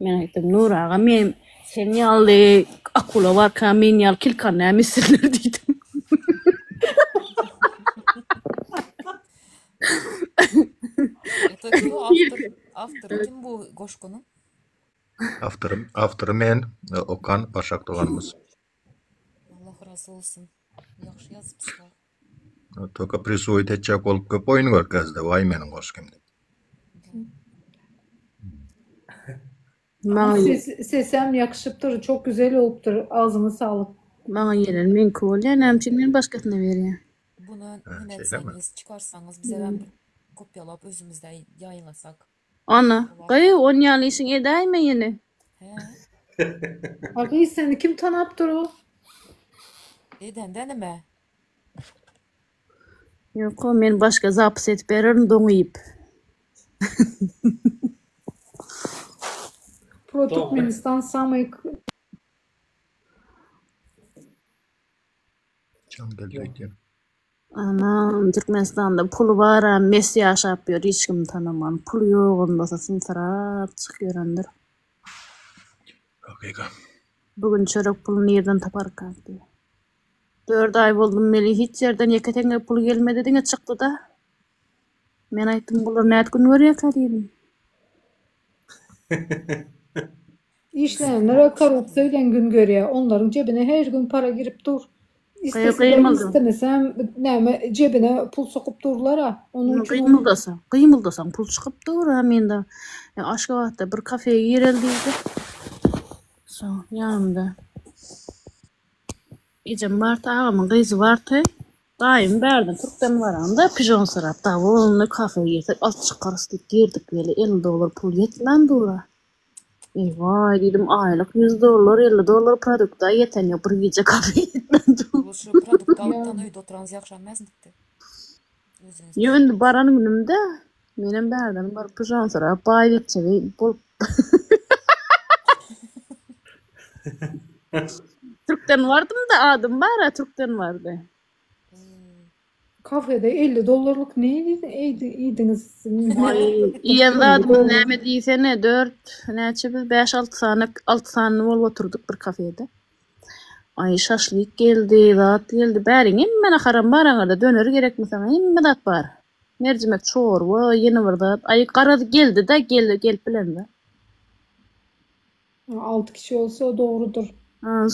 Men aýtdym, Nur aga, men sen ýaly akula barka, men ýaly kilkany näme etsinler diýdim. Öteki bu awtor, awtor kim bu goşgunyň? Awtory, awtory men, e, Okan Başak doganymyz. Allah razy bolsun. Ýagşy ýazypsyňyz. Toka prisuýt etjek bolup köp oýun görkezdi. Waý meniň goşgym diýip. Maňa Ses, sesem ýakşypdyr, çok güzel bolupdyr. Agzyňyz saglyk. maňa ýelen meňki bolýar. Näme üçin men başgasyna berýän? Buna Ha, neme şeýlemi? etseňiz, çykarsaňyz, bizem bir kopýalap özümizde ýaýyňlasak. Ana, gyýw, on ýaly işiň edäýme ýene. A gyz seni kim tanap dur. Edende nime? Ýoko, men başga zapis edip bererin doňy iýip. Pro Türkmenistan samyý k. Çal geldi ekeni. Aman Türkmenistanda puly baram mes ýaşap ýör hiç kim tanaman. Puly ýogam bolsa symsyrap çyk ýörendir. Hakyka. Bu gün çörek puly nirden taparkak diýe. Dört aý boldum meli hiç ýerden ýeke teňe puly gelmedi diňe çykdyda. Men aýtdym bular nät gün görýäkä diýdim. Işleýänler we korrupsiýa bilen gün görýär. Onlaryň jebine her gün para girip dur. Isleseler islemeseem näme jebine pul sokup durlar-a. Onuň üçin Gymyldasaň, gymyldasaň pul çykyp dur. Hä men de Aşgabatda bir kafeýa gireli diýdi. Şo ýanymda ejem bardy, agamyň gyzy bardy. Daýym bärden türkden baramda pijon sorap, Dawul, indi kafeýa girsek az çykarys diýip girdik weli elli dollar pul ýetmän dur-a. Eý-waý, diýdim, aýlyk ýüz dollar, elli dollar produkt-a ýeten ýok, bir gije kafe ýetmän dur. Ol şu produkty alyp tan öýde oturanys ýagşalmazyn diýipdi. Özüniň Ýok, indi isleýänini. baran günümde menem bärden baryp pyjan sorap, baý gepjegi bolup. Türkden bardym-da, adym bar-a, türkden bardy. Kafede elli dollarlyk ne iýdiňiz? Iýen zadymyz näme diýsene, dört, näçe biz bäş-alty sany, alty sany bolup oturdyk bir kafede. Aý, şaşlyk geldi, zat geldi, bäriň, hemme naharam bar aňyrda, döner gerekmi saňa, hemme zat bar. Merjimek çorba, ýene bir zat, aý, garaz geldi-de, gelip bilendi. Alty kişi bolsa dogrudyr.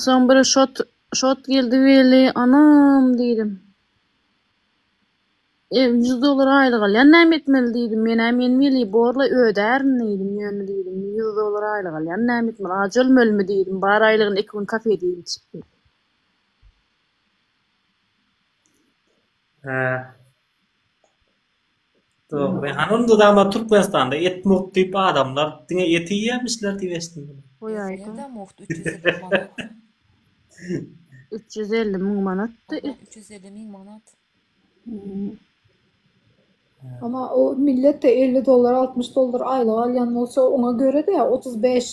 Soň bir şot şot geldi weli, anam diýdim. E, ýüz dollar aýlyk alýan, näme etmeli diýdim. Men-ä men weli borla ödärin diýdim, ýöne diýdim, ýüz dollar aýlyk alýan, näme etmeli, ajy ölmelimi diýdim, bar aýlygyny iki gün kafede iýip içip ýör. Hä. Hany onda dama Türkmenistanda et mugt diýip adamlar diňe eti iýýämişler diýip eşitdim men. Goý aýdyň. Üç ýüz elli müň manatdy et. Üç ýüz elli müň manat. Emma o milletde elli dollar altmyş dollar aýlyk alýan bolsa oňa görede otuz bäş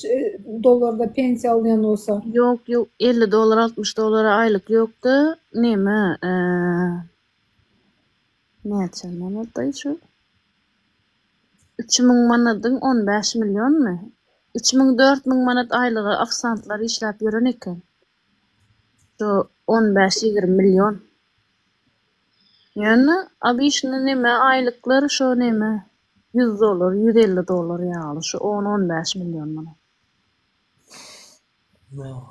dollarda pensiýa alýan bolsa. Ýok ýok elli dollar altmyş dollara aýlyk ýokda neme Näçe manadaý şu? Üç müň manadyň on bäş millionmy? Üç müň dört müň manat aýlyga ofisantlar işläp ýören eken. Şu on bäş ýigrimi million. Ýöne obişne neme aýlyklar şo neme ýüz dollar ýüz elli dollar ýaly şu on on bäş million manat. Ýok.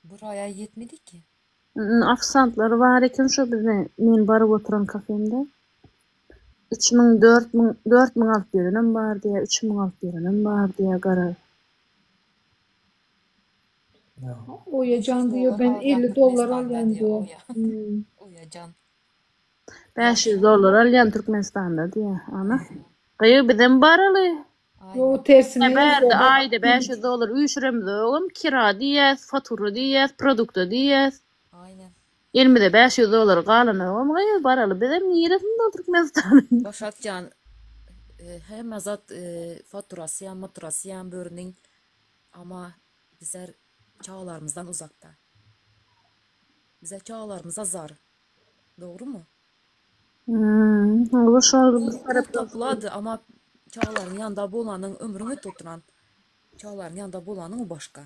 Bir aýa ýetmediki. Ofisantlar bar eken şo biziň men baryp oturan kafemde. Üç müň, dört müň, dört müň alyp berenem bar diýýär, üç müň alyp berenem bar diýýär, gara. Oýajan diýýär, men elli dollar alýan diýýär. Bäş ýüz dollar alýan Türkmenistanda diýýär, ana. Gyýw bizem baraly. Yo tersine Ýa ýaz bärde baba. aýda bäş ýüz dollar üýşüremizogam kira diýýäs, fatura diýýäs, produkta diýýäs. Aýnen. Elimize bäş ýüz dollar galanogam gyz baraly bizem niresini dolduryp Mesutanyň. Başak jan hemme zat faturasyam maturasyam bürüniň ama bizler çagalarymyzdan uzakda. Bize çagalarymyza zar. Dogrymy? Ol pul toplady, amma çagalaryň ýanynda bolanyň, ömrüň ötüp oturan çagalaryň ýanynda bolanyň o başga.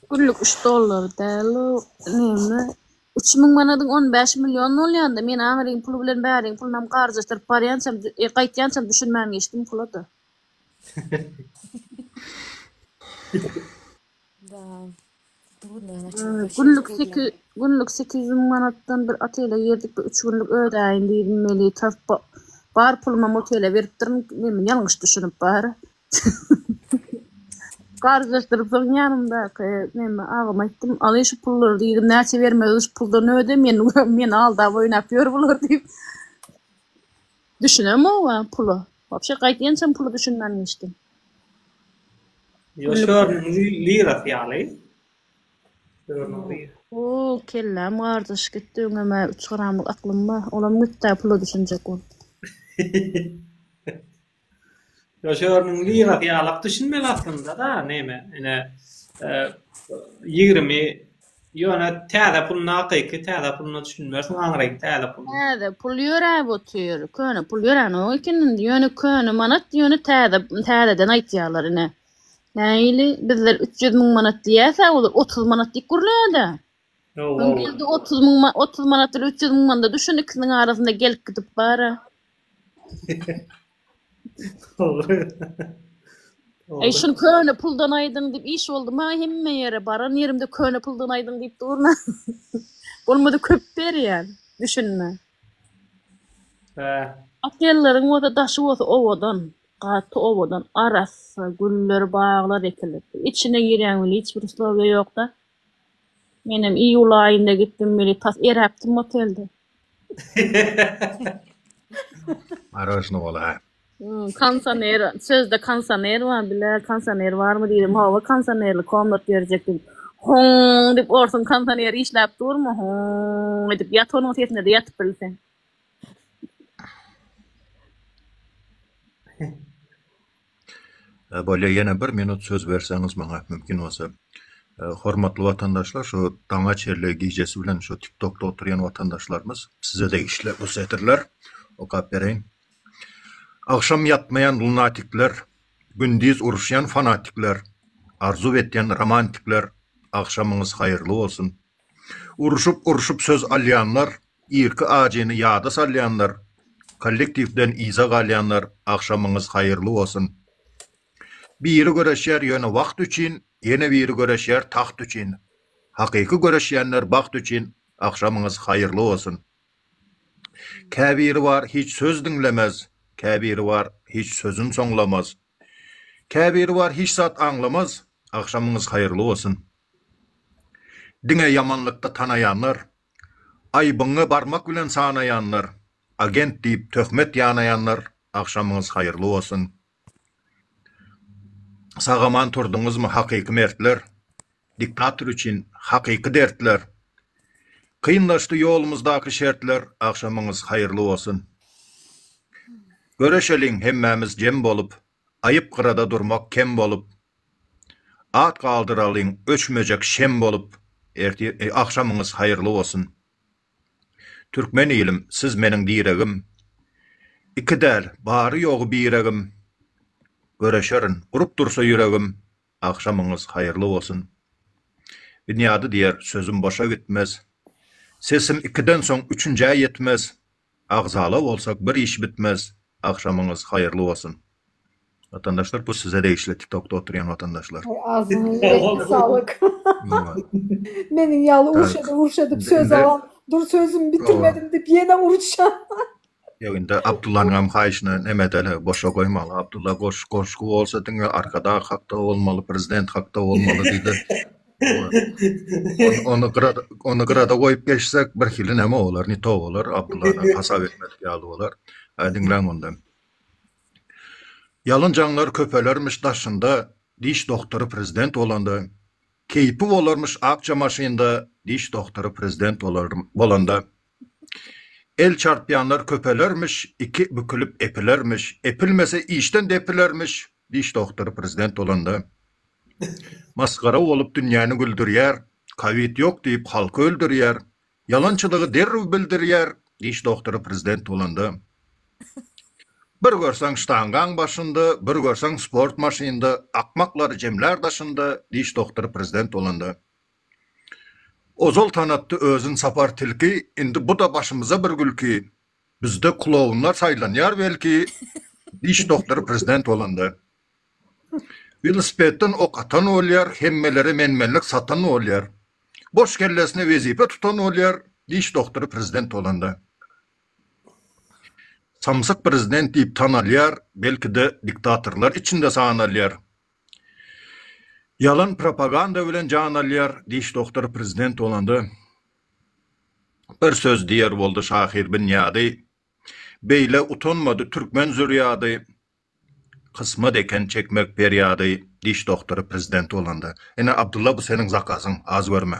Günlük üç dollar däl o näme. Üç müň manadyň on bäş million bolýanda, men aňryň puly bilen bäriň pulunam garjaşdyryp barýançam, gaýtýançam düşünmän geçdim pula-da. Günlük sekiz günlük sekiz ýüz müň manatdan bir otele girdik. Bir üç günlük ödäýin diýdim. Meli tas ba- bar pulumy motele beripdirin. Men ýalňyş düşünip bar. Garjyşdyryp soň ýanymdaky näme agama aýtdym. Aly şu pullary diýdim. Näçe bermeli şu puldan öde. Men meni aldap oýnap ýör bular diýip. Düşünemowa pula. Wapşe gaýt ençem pula düşünmän geçdim. Ýo şörüniň lirasy ýaly. Şörüniň lirasy. Hoo kelläm gardaş gitdi öňemä üç gramlyk aklymba olam gitdä pula düşünjek bolup. Şörüniň lyrasy ýalak düşünmeli aslynda-da, näme, ine, ýigrimi, ýöne täze pul nakyky, täze puluna düşünmersiň, aňryk täze pul. Täze pul ýöräp otyr, köne pul ýöränok eken indi, ýöne köne manat, ýöne täze, täzeden aýtýarlar ine. Nähili, bizler üç ýüz müň manat diýerse, olar otuz manat diýip gürlär-dä. Ýow-ow. Indi otuz müň, otuz manat bilen üç ýüz müň manada düşün, ikisiniň arasynda gelip-gidip bar-a. Eý şul köne puldan aýdyň diýip iş boldy maňa hemme ýere baran ýerimde köne puldan aýdyň diýip durna. Bolmady köp berýän. Düşünme. Hä. Otellaryň bolsa daşy bolsa owadan. Gaty owadan. Arassa güller baglar ekilipdir. Içine girýäň weli hiç bir uslowiýa ýokda. Menem iýul aýynda gitdim weli tas eräpdim otelde. Maroşny bola. Hmm, konsoner, sözde konsoner bar, bile konsoner barmy diýdim. Hawa, konsonerli komnat berjek diýdim. Hoň diýip orsuň konsoner işläp durmy? Hoň edip ýat onuň sesinde de ýatyp bilseň. Bolýa ýene bir minut söz berseňiz maňa mümkin bolsa. Hormatly watandaşlar şu daňa çenli gijesi bilen şu tik tokda oturýan watandaşlarymyz size degişli bu setirler okap bereýin. Agşam ýatmaýan lunatikler gündiz uruşýan fanatikler arzuw etýän romantikler agşamyňyz haýyrly bolsun Urşup-urşup söz alýanlar, irki ajyny ýada salýanlar, kollektiwden yza galýanlar agşamyňyz haýyrly bolsun. Biri göreşýär ýöne wagt üçin, ýene biri göreşýär tagt üçin. Hakyky göreşýänler bagt üçin agşamyňyz haýyrly bolsun. Käbiri bar hiç söz diňlemez, käbiri bar hiç sözün soňlamaz. Käbiri bar hiç zat aňlamaz. Agşamyňyz haýyrly bolsun. Diňe ýamanlykda tanaýanlar, aýbyňy barmak bilen sanaýanlar, agent diýip töhmet ýanaýanlar agşamyňyz haýyrly bolsun. Sagaman turduňyzmy hakyky mertler. Diktator üçin hakyky dertler. Kynlaşdy ýolumyzdaky şertler Agşamyňyz haýyrly bolsun. Göreşeliň hemmämiz jem bolup, Aýyp gyrada durmak kem bolup. At galdyralyň öçmejek şem bolup, Ertir, agşamyňyz haýyrly bolsun. Türkmen ilim, siz meniň diregim, Iki däl, bary-ýogy biregim. Göreşerin, gurup dursa ýüregim, Agşamyňyz haýyrly bolsun. Binýady diýer, sözüm boşa gitmez. Sesim ikiden soň üçünjä ýetmez. Agzala bolsak bir iş bitmez. Agşamyňyz haýyrly bolsun. Watandaşlar bu size degişli TikTokda oturýan watandaşlar. Aý agzyňa ýüregiňe saglyk. Meniň ýaly urşady urşady söz alan dur sözümi bitirmedim diýip ýene urşan. Ýok indi Abdullanyňam haýyşyna neme edeli boşa goýmaly Abdulla goş goşgy bolsa diňe arkadag hakda bolmaly prezident hakda bolmaly diýdi. Ony ony gyra ony gyrada goýup geçsek birhili neme bolar ne to bolar Abdullany hasap etmedik ýaly bolar. Hä diňläň onda. Ýalyn jaňlar köpelermiş daşynda diş dogtory prezident bolanda keýpi bolarmyş akja maşynda diş dogtory prezident bolar bolanda El çarpýanlar köpelermiş, iki bükülip epilermiş, epilmese işden depilermiş, diş dogtory prezident bolanda masgara bolup dünýäni güldürýär, kowid ýok diýip halky öldürýär, ýalançylygy derrew bildirýär, diş dogtory prezident bolanda bir görseň ştangaň başynda, bir görseň sport maşynda, akmaklary jemlär daşynda, diş dogtory prezident bolanda. Ozal tanatdy özün Sapar tilki, Indi bu-da başymyza bir gülki, Bizde klounlar saýlanýar belki, Diş doktory prezident bolanda. Welosipedden ok atan bolýar, Hemmelere men-menlik satan bolýar, Boş kellesine wezipe tutan bolýar, Diş doktory prezident bolanda. Samsyk prezident diýip tanalýar, Belki-de diktatorlar içinde sanalýar, Ýalan propaganda bilen jan alýar diş dogtor prezident bolanda bir söz diýer boldy şahyr binýady beýle utanmady türkmen zürýady kysmat eken çekmek perýady diş dogtor prezident bolanda ine abdulla bu seniň zakazyň az görme.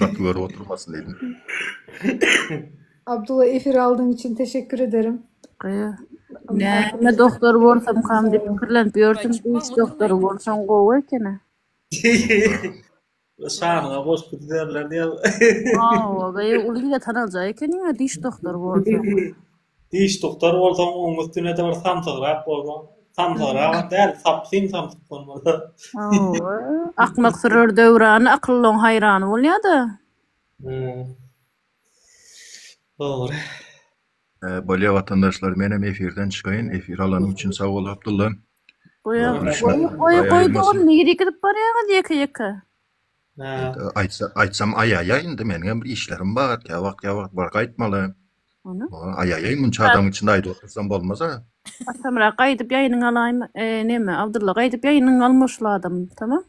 Gaty görüp oturmasyn diýdim. Abdula efir aldyň üçin teşekkür ederim. Näme doktor bolsamkam diýip pikirlenip ýörsün, diş doktory bolsaň gowy ekeni. Şanyňa goşgy düzerler diýýär. Hawa, gaýy uly ýere tanaljaý ekeniň-ä diş doktory bolsaň. Diş tugtar bolsaň oň üstünede bir samsygrak bolmaly. Samsygrak-am däl, sapsym samsyk bolmaly. Hawa, akmak sürer döwrany, akyllyň haýrany bolýa-da. Hä. Dogry. Bolýa watandaşlar menem efirden çykaýyn efir alanym üçin sag bol Abdylla. Goý goý goý dogan nirä gidip barýaňyz ýeke ýeke. Aýtsa, aýtsam aýaýaý indi meniň hem bir işlerim bar, kä wagt kä wagt bar gaýtmaly. Ony. Aýaýaý munça adam içinde aýdyp otursam bolmaz-a. Atamyrat gaýdyp ýaýynyňy alaýma, näme Abdylla gaýdyp ýaýynyňy al moşly adam, tamam.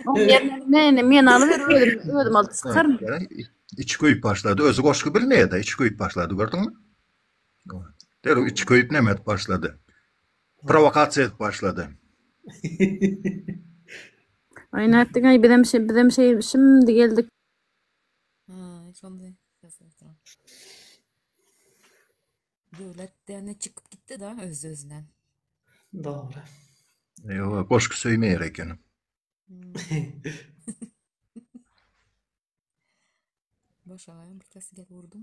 Oň ýerine meni, meni alyber özüm, özüm alyp çykaryn. Içi köýüp başlady, özi goşgy bilmeýä-de, içi köýüp başlady gördüňmi? Derrew içi köýüp näme edip başlady. Prowokasiýa edip başlady. Aý nätdiňaý bizem bizem şeý şimdi geldik. Aý şonda Döwlet däne çykyp gitdi da öz özünden. Dogry. Ýoga goşky söýmeýär ekenim. Boşagaýam bir tas gel urdum.